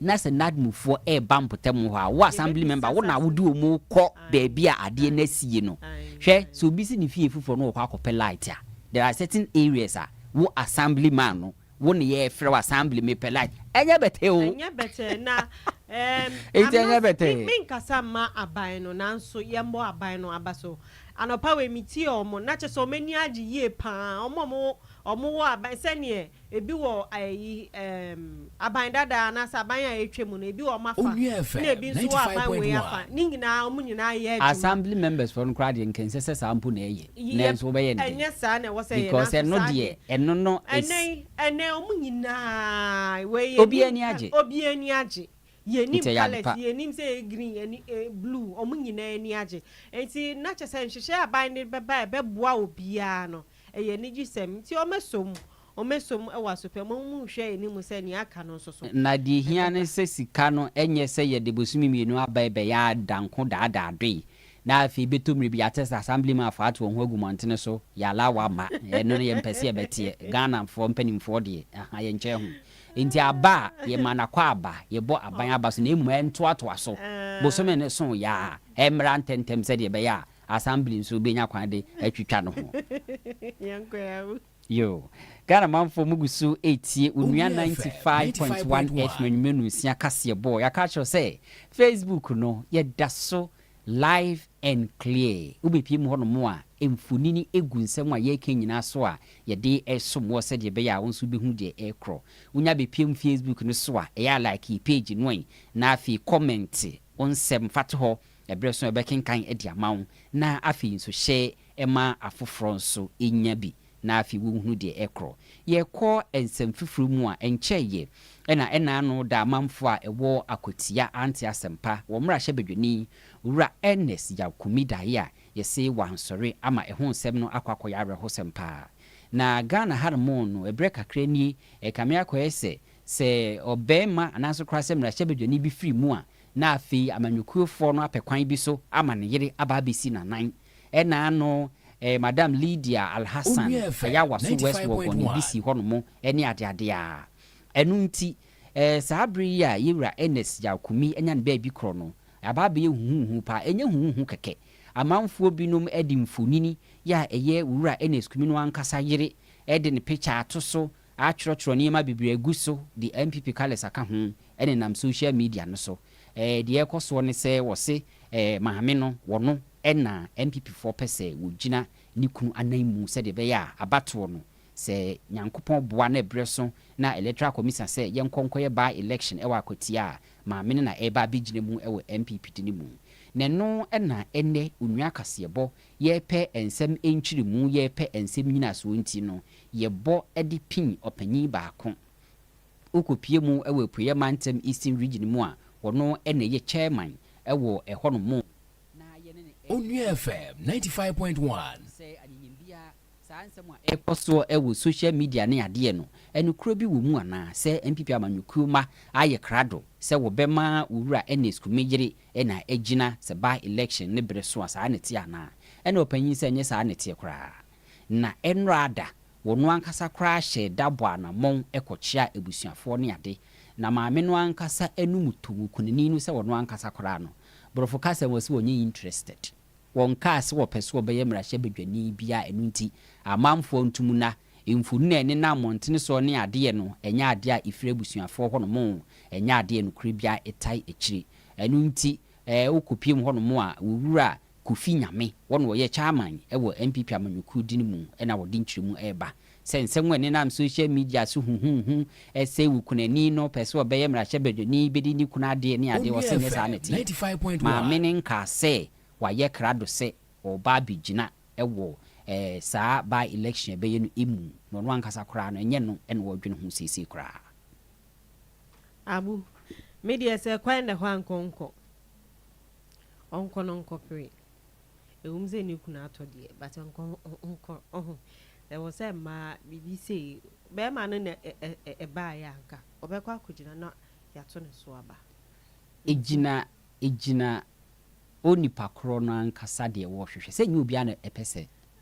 Na sɛ NADMUfoɔ reba mpɔtam hɔ a, wo assembly member, wo na wode wɔn kɔ baabi a adeɛ no asie no. Hwɛ, sɛ obi si ne fie foforɔ na ɔkɔ akɔpɛ light a, there are certain areas a, wo assembly man no, wo na yɛrefrɛ wo, assembly, mepɛ light. Ɛnyɛ bɛtɛɛ o! Ɛnyɛ bɛtɛɛ, na ɛɛm, Enti I'm ɛnyɛ not, bɛtɛɛ. me, menkasa mma aban no, nanso yɛmmɔ aban no aba so. Anɔpa wei, metiee wɔn, na kyerɛ sɛ wɔn ani agye yie pa ara, wɔn a wɔn, wɔn wɔ aban, sɛdeɛ Ebi wɔ ayi ɛɛm aban dada anaasɛ aban a ɛretwa mu no, ebi wɔ wɔn afa ɛna ebi nso wɔ aban wei afa. Ne nyinaa wɔn nyinaa yɛ adwuma. Assembly members foɔ no koraa deɛ nka ɛnsɛ sɛ saa mpo na ɛyɛ. Nanso wɔbɛyɛ no dɛn? Ɛnyɛ saa na ɛwɔ sɛ ɛyɛ nanso saa deɛ. Because ɛno deɛ ɛno no is. Ɛnɛ yi ɛnɛ wɔn nyinaa wei yɛ. Obiara ani agye. Obiara ani agye. Yɛnim colours, yɛnim sɛ ɛyɛ green ɛne blue, wɔn nyinaa ani agye. Nti na kyerɛ sɛ nhyehyɛe a aban de bɛba a ɛbɛboa obiara no, ɛyɛ anigyesɛm. Nti wɔmɛsɔ mu, wɔmɛsɔ mu wɔ asopɛ mu, wɔn nhwɛ anim sɛ nea aka no nso so. Na deɛ ɛhia ne sɛ sika no ɛnyɛ sɛ yɛde bosome mmienu aba ɛbɛyɛ a danko daadaadoe na afei bɛtɔ mmerɛ bi yɛate sɛ Assemblymanfoɔ ato wɔn ho agu mmɔntene so, yɛalawa ma, ɛno no yɛmpɛ sɛ yɛbɛteɛ, Ghanafoɔ mpanimfoɔ deɛ, ahaa, yɛnkyɛ ho. Enti aba a, yɛma no akɔ aba, yɛbɔ aban aba so na mmom ɛntoatoa so. Bosome no so yɛ a, ɛmmra ntɛmntɛm sɛdeɛ ɛbɛyɛ a Assembly nso bɛnya kwan de atwitwa no ho. Yoo. Ghana manfoɔ mo gu so retie Onua ninety five point one FM anwummerɛ nonsia kaseɛ bɔ. Yɛaka akyerɛ wo sɛ Facebook no, yɛda so. Live and clear. Wobɛpue mu hɔnom a, mfonini gu nsɛm a yɛreka nyinaa so a yɛde resom wo sɛdeɛ ɛbɛyɛ a wo nso wobɛhu deɛ ɛrekorɔ. Wonya bɛpue mu Facebook no so a, ɛyɛ a like yɛ page no ɛ, na afei kɔmɛnte wo nsɛm fa to hɔ. Ɛberɛ so a yɛbɛkenkan de ama wo, na afei nso hyɛ ma afoforɔ nso nya bi. na afei wonhunu deɛ ɛkorɔ. Yɛrekɔ nsɛm fifiri mu a, ɛnkyɛeɛ na ɛna ano da amanfoɔ a ɛwɔ Akwatia ante asɛmpa, wɔn mmarahyɛbadwani, Wura Ernest Yaw Kumi daeɛ a yɛse wansɔre ama ɛho nsɛm no akɔ akɔyɛ awerɛhosɛm paa. Na Ghana ha nom no, ɛberɛ kakra nie, ɛkame akɔyɛ sɛ, sɛ ɔbarima anaasɛ koraa sɛ mmarahyɛbadwani bi firi mu a, na afei amanyɔkuofoɔ no apɛ kwan bi so ama ne yere aba abɛsi n'anan Ɛna ano eh Madam Lydia Alhassan Ayawa so West Wuogon ebi si hɔ nom ne adeade a. Ɛno nti eh saa bere yi a Yewura Ernest Yaw Kumi anya ne baabi korɔ no, aba abɛyɛ huhuuhu paa. Ɛnyɛ huhuuhu kɛkɛ. Amanfoɔ binom de mfonini yi a ɛyɛ Wura Ernest Kumi no ankasa yere de ne pikya ato so, atwerɛtwerɛ nneɛma bebree agu so de NPP colours aka ho nenam social media no so. Eh deɛ ɛrekɔ soɔ ne sɛ wɔse eh maame no wɔno Ɛna NPP foɔ pɛ sɛ wɔgyina ne kunu anan mu sɛdeɛ ɛbɛyɛ a abatoɔ no, sɛ Nyankopɔn boa na ɛberɛ so na Electoral Commision sɛ yɛnkɔ nkɔyɛ by election ɛwɔ Akwatia a, maame no na ɛreba abɛgyina mu ɛwɔ NPP de no mu. Na ɛno ɛna ɛnnɛ Onua Kaseɛbɔ yɛrepɛ ɛnsɛm nkyeremu, yɛrepɛ ɛnsɛm nyinasoɔ nti no, yɛbɔ ɛde pin ɔpanyin baako. Wokɔ pie mu ɛwɔ Apueɛ Mantam Eastern Region mu a, ɔno ɛna ɛyɛ Chairman ɛwɔ ɛhɔ nom. Onua FM ninety five point one. Sɛ anyiyim biara, saa nsɛm a ɛrekɔ soɔ wɔ social media ne adeɛ no, nokorɛ bi wɔ mu anaa? Sɛ NPP amanyɔkuo mma ayɛ krado sɛ wɔbɛma Owura Ernest Kumeh yere na agyina sɛ by election no berɛ so a, saa na ɛteɛ anaa? Ɛna ɔpanyin sɛ ɛnyɛ saa na ɛteɛ koraa. Na ɛnora da Wɔn ankasa koraa hyɛɛ da bɔɔ anammɔn kɔkyeaa abusuafoɔ ne ade, na maame no ankasa anum too kunini no sɛ ɔno ankasa koraa no, Borɔfo kasa mu wɔse ɔnyɛ interested. Wɔkaa sɛ wɔpɛ sɛ wɔbɛyɛ mmarahyɛbadwani bi a ɛno nti amanfoɔ ntom na mfonini a ɛnenam mmɔntene soɔ ne adeɛ no ɛnyɛ adeɛ a ɛfiri abusuafoɔ hɔnom, ɛnyɛ adeɛ a nokorɛ biara tae akyire. Ɛno nti wokɔpiem hɔnom a, wo wura Kofi Nyame, wɔ na ɔyɛ Chairman wɔ NPP amanyɔkuo dini mu na wɔde nkyerɛmu reba sɛ nsɛm a ɛnenam social media so huhuuhu sɛ okunani no pɛ sɛ ɔbɛyɛ mmarahyɛbadwani bɛdi ne kunu adeɛ ne adeɛ, ɔse nyɛ saa na ɛteɛ. Maame no nkaa sɛ wayɛ krado sɛ ɔreba abɛgyina wɔ saa by election a ɛbɛyɛ no mu na ɔno ankasa koraa no ɛnyɛ no na ɔredwene ho seesei koraa. Abu, Me deɛ sɛ kwan da hɔ a nka ɔnkɔ. Ɔnkɔ no nkɔ pere. Ɛwom sɛ ne kunu atɔ deɛ but ɔnkɔ nkɔ ɔho ɛwɔ sɛ mmaa biribi sei bɛrima no na ɛbaeɛ a anka ɔbɛkɔ akɔgyina na yɛato ne so aba. Ɛgyina ɛgyina onipa korɔ no ankasa deɛ wɔrehwehwɛ sɛ ɛnyɛ obiara na ɛpɛ sɛ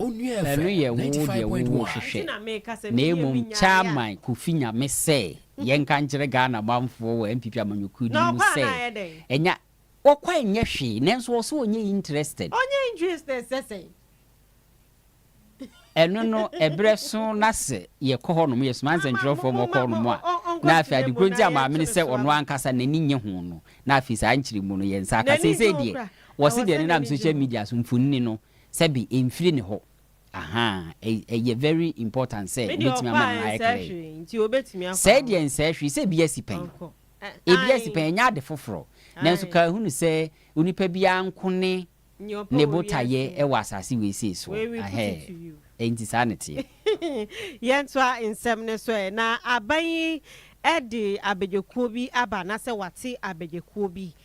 Ɛno yɛ wo deɛ wo wo hwehwɛ na mmom Chairman Kofi Nyame sɛ yɛnka nkyerɛ Ghana manfoɔ wɔ NPP amanyɔkuo din mu sɛ ɛnyɛ Ɔkɔ a ɛnyɛ hwee nanso ɔsɛ ɔnyɛ interested. Ɔnyɛ interested sɛ sɛn? Ɛno no ɛberɛ so na sɛ yɛkɔ hɔ nom yɛsoma nsɛntwerɛfoɔ ma ɔkɔ hɔ nom a na afei ade korɔ nti a maame no sɛ ɔno ankasa n'ani nnye ho no na afei saa nkyeremu no yɛn nsa aka seisei deɛ wɔse deɛ nenam social media so mfonini no sɛ bi ɛnfiri ne hɔ ahaa ɛyɛ very important sɛ wobɛtumi ama no ayɛ clear sɛɛ deɛ nsɛɛ hwee sɛ ɛbi asi pɛn ɛbi asi pɛn ɛnyɛ ade foforɔ nanso ka hunu sɛ onipa biara nko ne ne botaeɛ wɔ asase wei sei soɔ ahɛɛ ɛnti saa ne teɛ. Yɛntoa nsɛm no so ɛ, na aban yi de abɛgyekuo bi aba anaa sɛ wate abɛgyekuo bi?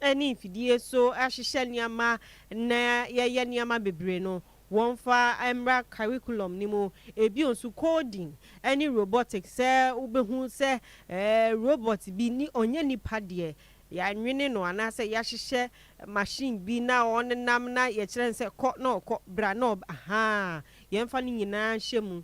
ne mfidie so hyehyɛ nneɛma na yɛyɛ nneɛma bebree no, wɔmfa mmra curriculum no mu. Ebio nso coding ne robotics, sɛ wobɛhu sɛ robot bi ni, ɔnyɛ nipa deɛ, yɛanwene no anaasɛ yɛahyehyɛ machine bi na ɔnenam na yɛkyerɛ no sɛ kɔ na ɔkɔ, bra na ɔba, ahaa, yɛmfa ne nyinaa nhyɛ mu.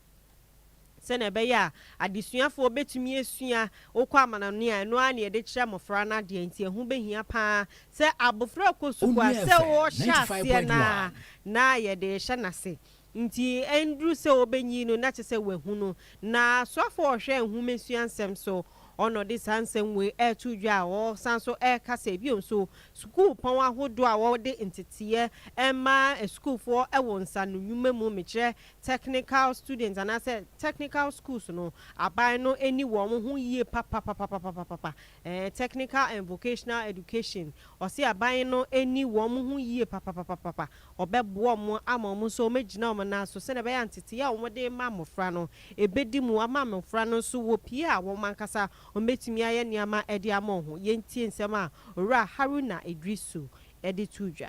Sɛnea ɛbɛyɛ a adesuafoɔ bɛtumi asua wokɔ amanɔne a, ɛno ara na yɛde kyerɛ mmɔfra no adeɛ, enti ɛho bɛhia pa ara sɛ abɔfra rekɔ sukuu a, sɛ ɔrehyɛ aseɛ no ara na yɛde rehyɛ no ase. Enti ɛnduru sɛ ɔbɛnyin no na kyerɛ sɛ wahu no. Na soafoɔ a ɔhwɛ nhomasua nsɛm so hɔ no de saa nsɛm wei reto dwa a, ɔsan nso reka sɛ, bio nso, sukuupɔn ahodoɔ a wɔde nteteeɛ ma asukuufoɔ wɔ nsaanonwuma mu, mekyerɛ Technical students anaasɛ technical schools no, aban no ani wɔ wɔn ho yie papapapapapapa. Ɛɛ Technical and Vocational Education, ɔse aban no ani wɔ wɔn ho yie papapapapapa. Wɔbɛboa wɔn ama wɔn nso wɔagyina wɔn nan so sɛdeɛ ɛbɛyɛ a ntetee a wɔde rema mmɔfra no, ɛbɛdi mu ama mmɔfra no nso wɔpue a wɔn ankasa wɔbɛtumi ayɛ nneɛma de ama wɔn ho. Yɛntie nsɛm a Owura Haruna Iddrisu de too dwa.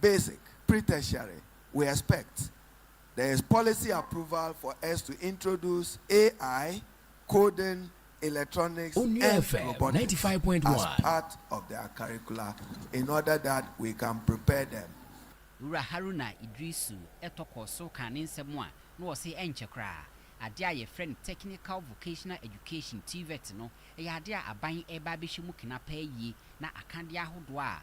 basic, pre-tertiary, we expect there is policy approval for us to introduce AI, coding, electronics and robotics as part of their curricula in order that we can prepare them. Owura Haruna Iddrisu tɔ kɔɔ so kaa ne nsɛm mu a na ɔse ɛnkyɛ koraa, adeɛ a yɛfrɛ no Technical Vocational Education, TVET, no, ɛyɛ adeɛ a aban reba abɛhyɛ mu kena paa yie na akadeɛ ahodoɔ a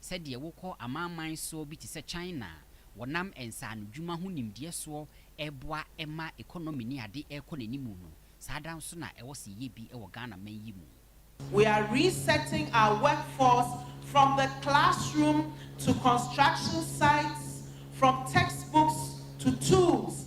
Sɛdeɛ wokɔ amanaman soɔ bi te sɛ China a wɔnam nsaanodwuma ho nimdeɛ soɔ reboa ma economy ne ade rekɔ n'anim no, saa ara nso na ɛwɔ sɛ yɛyɛ bi wɔ Ghanaman yi mu. We are resetting our workforce from the classroom to construction sites, from textbooks to tools,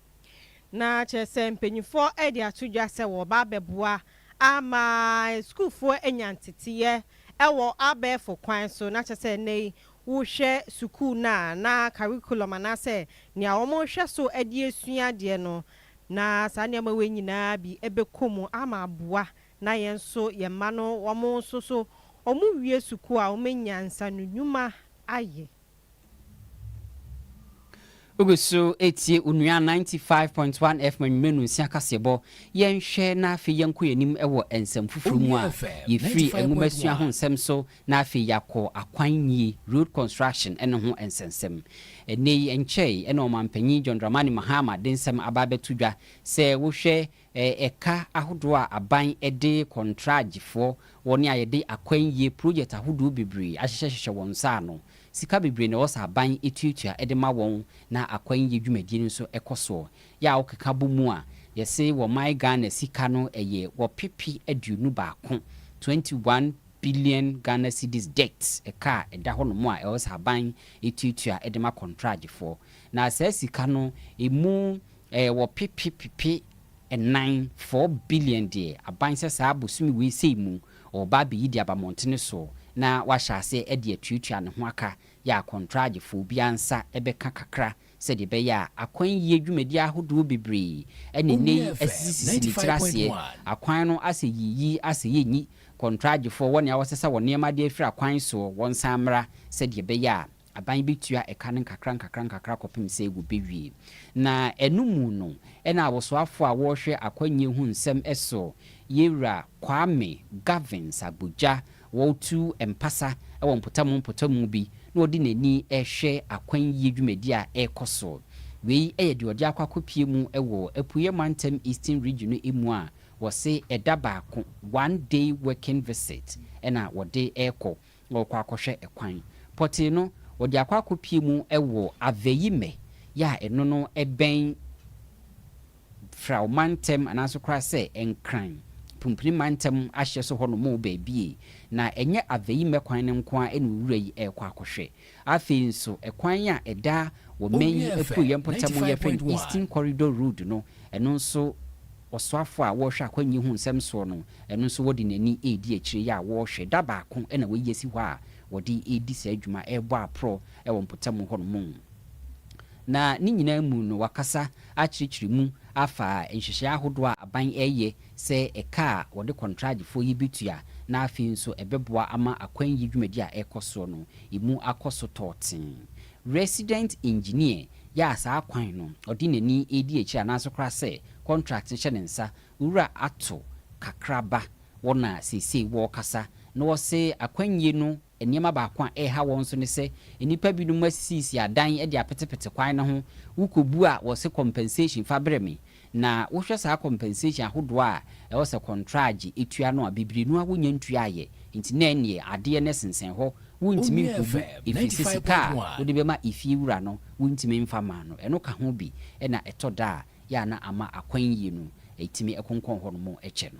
Na kyerɛ sɛ mpanyimfoɔ de ato dwa sɛ wɔreba abɛboa ama sukuufoɔ anya nteteeɛ wɔ abɛɛfo kwan so. Na kyerɛ sɛ nnɛ yi wohwɛ sukuu no a, na curriculum anaasɛ nea wɔrehwɛ so de asua adeɛ no, na saa nneɛma wei nyinaa bi bɛkɔ mu ama aboa na yɛn nso yɛn mma no wɔn nso so wɔwie sukuu a wɔanya nsanonwuma ayɛ. Wogu so retie Onua 95.1 FM anwummerɛ nonsia kaseɛbɔ. Yɛnhwɛ na afei yɛnkɔ yɛn anim wɔ nsɛm foforɔ mu a yɛfiri nwomasua ho nsɛm so na afei yɛakɔ akwan nie, road construction, no ho nsɛnsɛm. Ɛnnɛ yi ɛnkyɛe na Ɔmanpanyin John Dramani Mahama de nsɛm aba abɛto dwa sɛ wohwɛ Ɛka ahodoɔ a aban de kɔntragyefoɔ, wɔn a yɛde akwannyie project ahodoɔ bebree ahyehyɛ hyehyɛ wɔn nsa ano. Sika bebree na ɛwɔ sɛ aban tuatua de ma wɔn na akwannyie dwumadie no nso kɔ soɔ. Yɛ a wokeka bɔ mu a, yɛse wɔ man Ghana sika no ɛyɛ wɔpepe aduonu baako, 21 billion Ghana cedis debt, ɛka a ɛda hɔ nom a ɛwɔ sɛ aban tuatua de ma kɔntragyefoɔ. Na saa sika no, ɛmu E Wɔpepe pepe nnan, four billion, deɛ aban sɛ saa bosome wei sei mu ɔreba abɛyi de aba mmɔntene soɔ na wahyɛ aseɛ de atuatua ne ho aka yɛ akɔntragyefoɔ. Obiara nsa bɛka kakra sɛdeɛ ɛbɛyɛ a akwan yie dwumadie ahodoɔ bebree na nnɛ yi asisisisi ne tiri aseɛ. Akwan no asɛ yi, yi asɛ yɛ nyi. Kɔntragyefoɔ, wɔn a wɔsesa wɔn nneɛma de afiri akwan soɔ, wɔnsan mmra sɛdeɛ ɛbɛyɛ a Aban betua ɛka no nkakrankakra kɔpem sɛ wobewie. Na ɛno mu no na awosoafo a wɔrehwɛ akwannyie ho nsɛm so Yewura Kwame Gavins Agbodza wɔretu mpasa wɔ mpɔtamu mpɔtamu bi na ɔde n'ani rehwɛ akwannyie dwumadi a ɛrekɔ so. Wei yɛ deɛ ɔde akɔ akɔpue mu wɔ Apueɛ Mantam Eastern Region no mu a wɔse ɛda baako, one day working visit, na wɔde rekɔ. na ɔrekɔ akɔhwɛ kwan. Pɔtee no, ɔde akɔ akɔpue mu wɔ Aveyime yɛ a ɛno no bɛn Frao mantam anaase koraa sɛ Nkran, Pumpuni mantam ahyeɛ so hɔ nom baabi. Na ɛnyɛ Aveyime kwan no nko ara na owura yi rekɔ akɔhwɛ. Afei nso, ɛkwan a ɛda wɔ Maine yi apueeɛ mpɔtam mu yɛfrɛ no Eastern Corridor Road no, ɛno nso ɔsoafoɔ a ɔrehwɛ akwannyie ho nsɛm soɔ no, ɛno nso wɔde n'ani redi akyire yi a wɔrehwɛ. Da baako na wɔayi asi hɔ a wɔde redi saa dwuma, rebɔ aporɔ wɔ mpɔtam hɔnom. Na ne nyinaa mu no, wɔakasa akyerɛkyerɛ mu afa nhyehyɛeɛ ahodoɔ a aban reyɛ sɛ ɛka a wɔde kɔntragyefoɔ yi bɛtua na afei nso ɛbɛboa ama akwan yi dwumadi a ɛrekɔ soɔ no ɛmu akɔ so tɔɔten. Resident Engineer yɛ a saa kwan no ɔde n'ani redi akyire anaasɛ koraa sɛ contract no hyɛ ne nsa wura ato kakraba wɔn a seesei wɔrekasa na wɔse akwannie no Nneɛma baako a ɛreha wɔn nso ne sɛ nnipa binom asisiisisi adan de apetepete kwan no ho. Wokɔbu a, wɔse compensation, fa brɛ me. Na wohwɛ saa compensation ahodoɔ a ɛwɔ sɛ kɔntragye tua no a, bebree no ara wɔnnya ntuaeɛ. Enti na ɛnneɛ adeɛ no ɛsensɛn hɔ. Wontumi nkɔbu ɛfiri sɛ sika a wode bɛma efie wura no wontumi mfa mmaa no. Ɛno ka ho bi na ɛtɔ da a yɛ a na ama akwan yie no ɛtumi konkɔn hɔnom kyɛ no.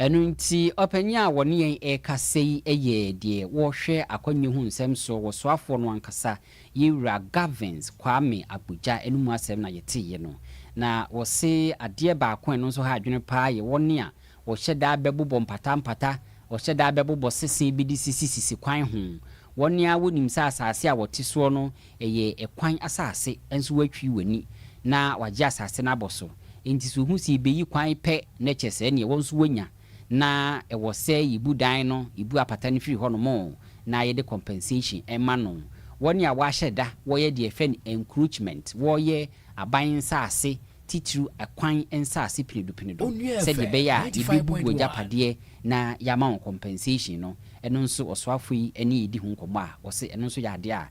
Ɛno nti, ɔpanyin a ɔne yɛn rekasa yi yɛ deɛ ɔhwɛ akwannyɛ ho nsɛm soɔ wɔ soafoɔ no ankasa, yɛn wura Gavins Kwame Agbodza no mu asɛm na yɛteeɛ no. Na ɔse adeɛ baako a ɛno nso ha adwene paa yɛ wɔn a wɔhyɛ da bɛbobɔ mpatampata, wɔhyɛ da bɛbobɔ sese bi de sisisisi kwan ho. Wɔn ara wɔnim sɛ asase a wɔte soɔ no, Ɛyɛ ɛkwan asase, nso woatwiri w'ani na wagye asase no abɔ so. Enti so wohu sɛ yebeyi kwan pɛ na kyɛ sɛɛ nea ɛwɔ nso woanya? Na ɛwɔ sɛ yebu dan no, yebu apata no firi hɔnom, na yɛde compensation ma no. Wɔn a wɔahyɛ da wɔyɛ deɛ yɛfrɛ no encroachment, wɔyɛ aban nsase, titiriw ɛkwan nsase penedu penedu, sɛdeɛ ɛbɛyɛ a yebebu wɔn agyapadeɛ na yɛama wɔn compensation no, ɛno nso ɔsoafo yi ne yɛredi ho nkɔmmɔ a ɔse ɛno nso yɛ adeɛ a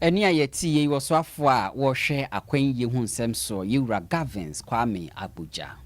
Ɛnne a yɛte yei wɔ soafoɔ a wɔhwɛ akwan yie ho nsɛm soɔ, Yɛwura Gavins Kwame Agbodza.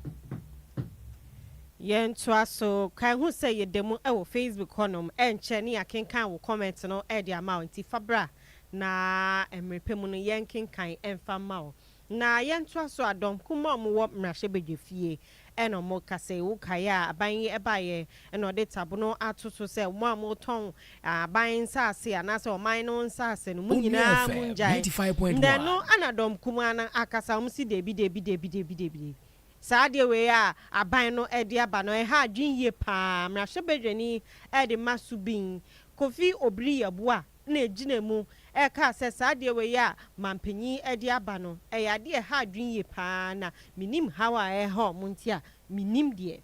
Yɛn ntoa so, kae hu sɛ yɛ da mu wɔ Facebook hɔ nom, ɛnkyɛ ne yɛ kenkan wo comment no de ama wo, nti fa bra na mmerɛ pɛ mu no yɛn kenkan mfa mma wo. Na yɛntoa so a, dɔm kumaa a wɔwɔ mmarahyɛbadwa fie na wɔka sɛ, Wokae a aban yi baeɛ na wɔde tabono ato so sɛ, Mo a motɔn aban nsase anaasɛ ɔman no nsase no, mo nyinaa mongyae. Nnɛ no na dɔm kumaa no akasa, wɔse, Dabi, dabi, dabi, dabi, dabi. Saa adeɛ wei a aban no de aba no, ɛha adwene yie pa ara. Mmarahyɛbadwani de ma Subin Kofi Obiri Yeboah na egyina mu ɛkaa sɛ saa adeɛ wei a mampanyin de aba no ɛyɛ adeɛ a ɛha adwene yie paa na menim haw a ɛreha wɔn nti a menim deɛ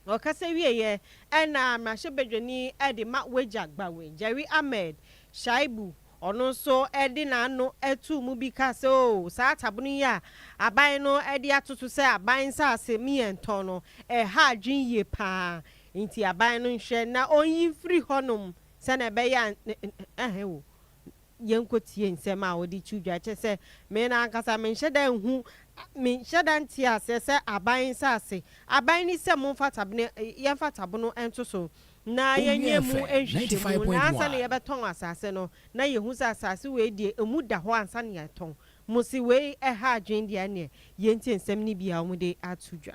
ɔkasa wieɛ ɛna mmarahyɛbadwani de ma wagya Gbawe Jerry Ahmed Shaibu ɔno nso de n'ano too mu bi kaa sɛ oo saa atabono yi a aban no de ato so sɛ aban nsaase me yɛntɔn no ɛha adwene yie paa nti aban no nhwɛ na ɔnyi mfiri hɔnom Sɛnea ɛbɛyɛ a ɛhe wo yɛnkotie nsɛm a wɔde to dwa, kyerɛ sɛ, me no ankasa menhyɛ da nhu, menhyɛ da nte aseɛ sɛ aban nsase, aban ni sɛ momfa tabene, yɛmfa tabono nto so na yɛnyɛ mu nhwehwɛmu na ansa na yɛbɛtɔn asase no na yɛhu sɛ asase wei deɛ ɛmu da hɔ ansa na yɛatɔn, mo se wei ɛha adwene deɛ ɛneɛ yɛntie nsɛm no bi a wɔde ato dwa.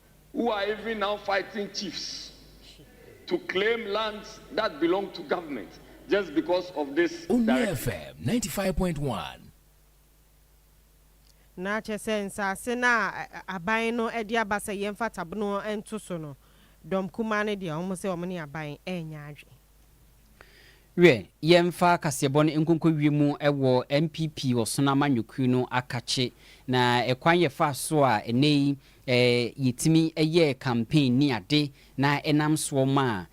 who are even now fighting chiefs to claim lands that belong to government just because of this directive. Onua FM ninety five point one. Na kyerɛ sɛ nsase no a aban no de aba sɛ yɛmfa tabono nto so no, dɔm kumaa no deɛ wɔn sɛ wɔn ne aban renya adwene. Wiɛ, yɛmfa kaseɛbɔ no nkonkowie mu wɔ NPP Ɔsono Amanyɔkuo no akakye na ɛkwan yɛfaa so a ɛnnɛ yi yɛtumi yɛɛ campaign ne ade na ɛnam soɔ maa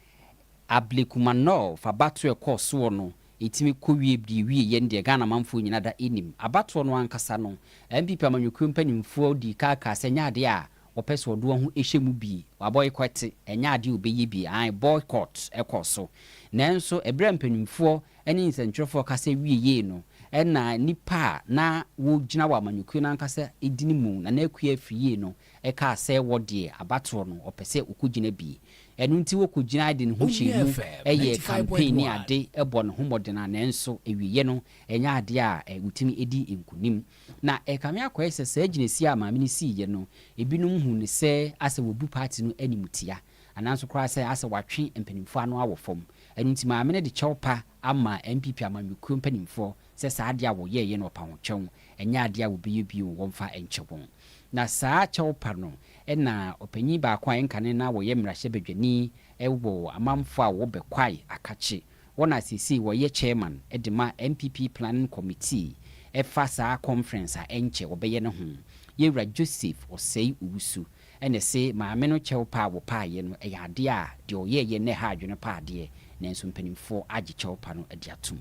Ablekumanov abatoɔ a ɛkɔɔ soɔ no ɛtumi kɔwie deɛ ɛwie yɛ no deɛ Ghana manfoɔ nyina da nim. Abatoɔ no ankasa no, NPP Amanyɔkuo mpanimfoɔ dii kan kaa sɛ ɛnyɛ adeɛ a Wɔpɛ sɛ ɔde wɔn ho hyɛ mu bi. Wɔabɔyikɔte. Ɛnyɛ ade a wɔbɛyɛ bi. Aane, boycott kɔ so. Nanso, berɛ a mpanimfoɔ ne nsɛntwerɛfoɔ kasa wieei no, ɛnna nnipa a na wɔgyina wɔ amanyɔkuo no ankasa edini mu, Nana Akua Afriyie no, kaa sɛ wɔ deɛ, abatoɔ no, wɔpɛ sɛ wɔkɔgyina bi. Ɛno nti wɔkɔgyinae de ne ho hyɛɛ mu yɛɛ campaign ne ade bɔɔ ne ho mmɔden a nanso awieeɛ no, ɛnyɛ adeɛ a wɔtumi di nkonim. Na ɛrekame akɔyɛ sɛ saa gyinasie a maame no siiɛ no, ebinom huu no sɛ asɛ wabu party no animtia, anaa nso koraa sɛ asɛ watwe mpanimfoɔ ano awɔ fam. Ɛno nti maame no de kyɛw pa ama NPP amanyɔkuo mpanimfoɔ sɛ saa adeɛ a wɔyɛeɛ no wɔpa ho kyɛw, ɛnyɛ adeɛ a wɔbɛyɛ bio wɔmfa nkyɛ wɔn. Na saa kyɛw pa no na ɔpanyin baako a ɛnkane na ɔyɛ mmarahyɛbadwani wɔ amanfoɔ a wɔwɔ Bɛkwae akakyee. Wɔn a seesei wɔyɛ chairman de ma NPP planning committee fa saa conference a ɛnkyɛ wɔbɛyɛ no ho, Yewura Joseph Osei Owusu, na ɛse maame no kyɛw pa a wɔpaeɛ no yɛ adeɛ a deɛ ɔyɛeɛ nnɛ ha adwene pa adeɛ, nanso mpanimfoɔ agye kyɛw pa no adi atom.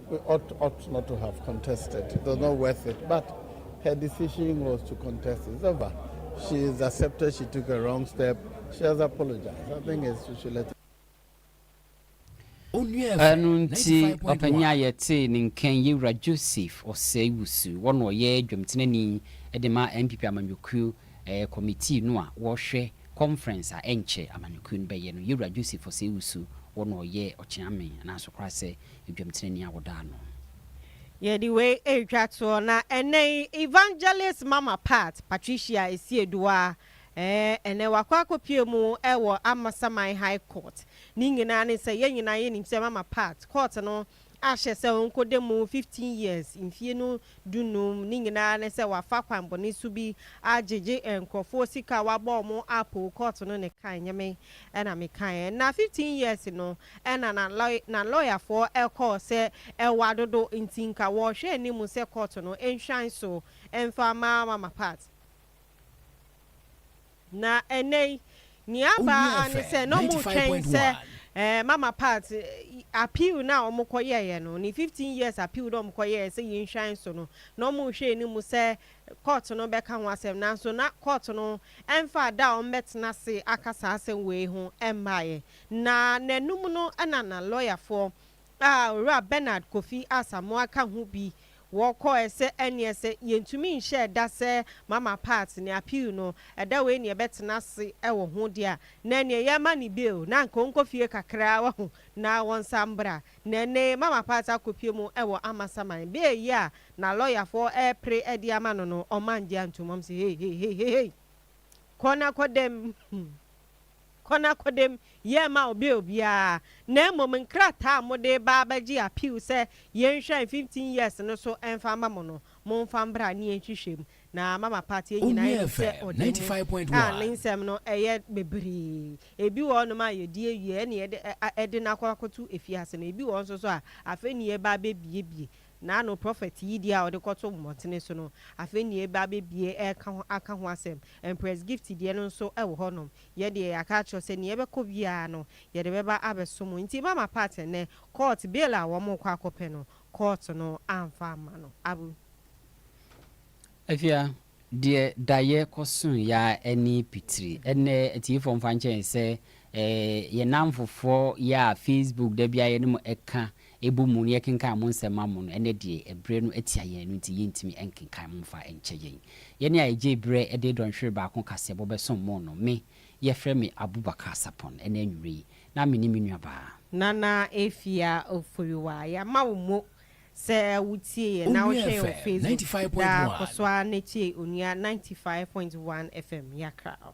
She ought ought not to have contested. It was not worth it. But her decision was to contest. It's over. She has accepted she took a wrong step. She has apologized. I think it's, we should let her. Ɛno nti, ɔpanyin a yɛtee ne nkan yi, Wura Joseph Osei-Wusu, wɔn na ɔyɛ dwamtenani de ma NPP amanyɔkuo kɔmitii no a wɔhwɛ conference a ɛnkyɛ amanyɔkuo no bɛyɛ no. Yɛwura Joseph Osei-Wusu, wɔn na ɔyɛ ɔkyeame anaa Asokorasɛ Adwamtenenee a woda ano. Yɛde wei retwa toɔ na ɛnnɛ yi Evangelist Mama Pat, Patricia Esieduah, ɛɛ, ɛnnɛ wakɔ akɔpue mu wɔ Amasaman High Court. Ne nyinaa ne sɛ yɛn nyinaa yɛnim sɛ Mama Pat, court no ahyɛ sɛ ɔnkɔda mu fifteen years, mfie no dunum, ne nyinaa ne sɛ wafa kwanbɔne su bi agyegye nkurɔfoɔ sika a wabɔ wɔn a poll court no ne kae nyɛ me na me kaeɛ. Na fifteen years no na na na lɔyafoɔ kɔɔ sɛ ɛwɔ adodo nti nka wɔrehwɛ anim sɛ court no nhwan so mfa mma Mama Pat. Na ɛnnɛ yi, nea aba ara ne sɛ na wɔretwɛn sɛ Mama Pat appeal no a wɔkɔyɛeɛ no, ne fifteen years appeal no a wɔkɔyɛeɛ sɛ yɛnhwan so no, na wɔrehwɛ anim sɛ kɔɔto no bɛka ho asɛm. Nanso na kɔɔto no mfaa da a wɔbɛtena ase aka saa asɛm wei ho mmaeɛ. Na nnanum no na na lɔyafoɔ a Owura Bernard Kofi Asamoah ka ho bi wɔ kɔɔɛ sɛ ɛneɛ sɛ yɛntumi nhyɛɛ da sɛ Mama Pat ne appeal no ɛda wei neɛ bɛtena ase wɔ ho deɛ a na ɛneɛ yɛma ne bail na anka ɔnkɔ fie kakraa wahu na wɔnsa mbra na ɛnɛ yi Mama Pat akɔpue mu wɔ Amasaman bail yi a na lawyer foɔ ɛɛpre de ama no no ɔma ngye antom ɔm se heiheiheihei kɔ na kɔ dɛm hmm. kɔ na kɔdam yɛ mma ɔbea obiara, na mmom nkrataa a mode reba abɛgye appeal sɛ yɛnhwɛ mfimfini years no so mfa mma mo no, momfa mbra ne yɛnhwehwɛ mu, na Mama Pat yɛn nyinaa nim sɛ ɔde mu a ne nsɛm no yɛ bebree. Ebi wɔ hɔnom a yɛdi awie ɛnna yɛde no akɔ akɔto afiase no, ebi wɔ hɔ nso so a afei na yɛreba abɛbuebue. N'ano, prɔfɛt Yidie a ɔde kɔto mmɔtene so no, afei na yɛreba abɛbie reka ho aka ho asɛm. Empress Gift deɛ no nso wɔ hɔnom. Yɛn deɛ, yɛaka akyerɛ wo sɛ nea yɛbɛkɔ biara no, yɛde bɛba abɛsom wo. Nti mama part nnɛ, kɔɔt, bail a wɔrekɔ akɔpɛ no, kɔɔt no amfa amma no. Abu. Afia, Deɛ daeɛ kɔsoo yɛ ara ɛne pitiri. Ɛnnɛ atiefoɔ mfa nkyɛ yɛn sɛ yɛn nnamfofoɔ yɛ a facebook da biara yɛne mo ɛka ɛbɔ mu na yɛkenkan mo nsɛm ma mo no, ɛnnɛ deɛ ɛberɛ no atia yɛn, ɛno nti yɛntumi nkenkan mo mfa nkyɛ yɛn. Yɛn a ɛgyee berɛ de dɔnhwere baako kaseɛbɔ bɛsom mo no, me, yɛfrɛ me Abubakar Sarpong, ɛnnɛ anwummerɛ yi, na me ne me nuabaa. Nana Afia Oforiwa. Yɛama wo mo Sɛ wo tie yɛn na wo hwɛ yɛn Facebook daa kɔ so ara na tie Onua ninety five point one FM Yɛakra wo.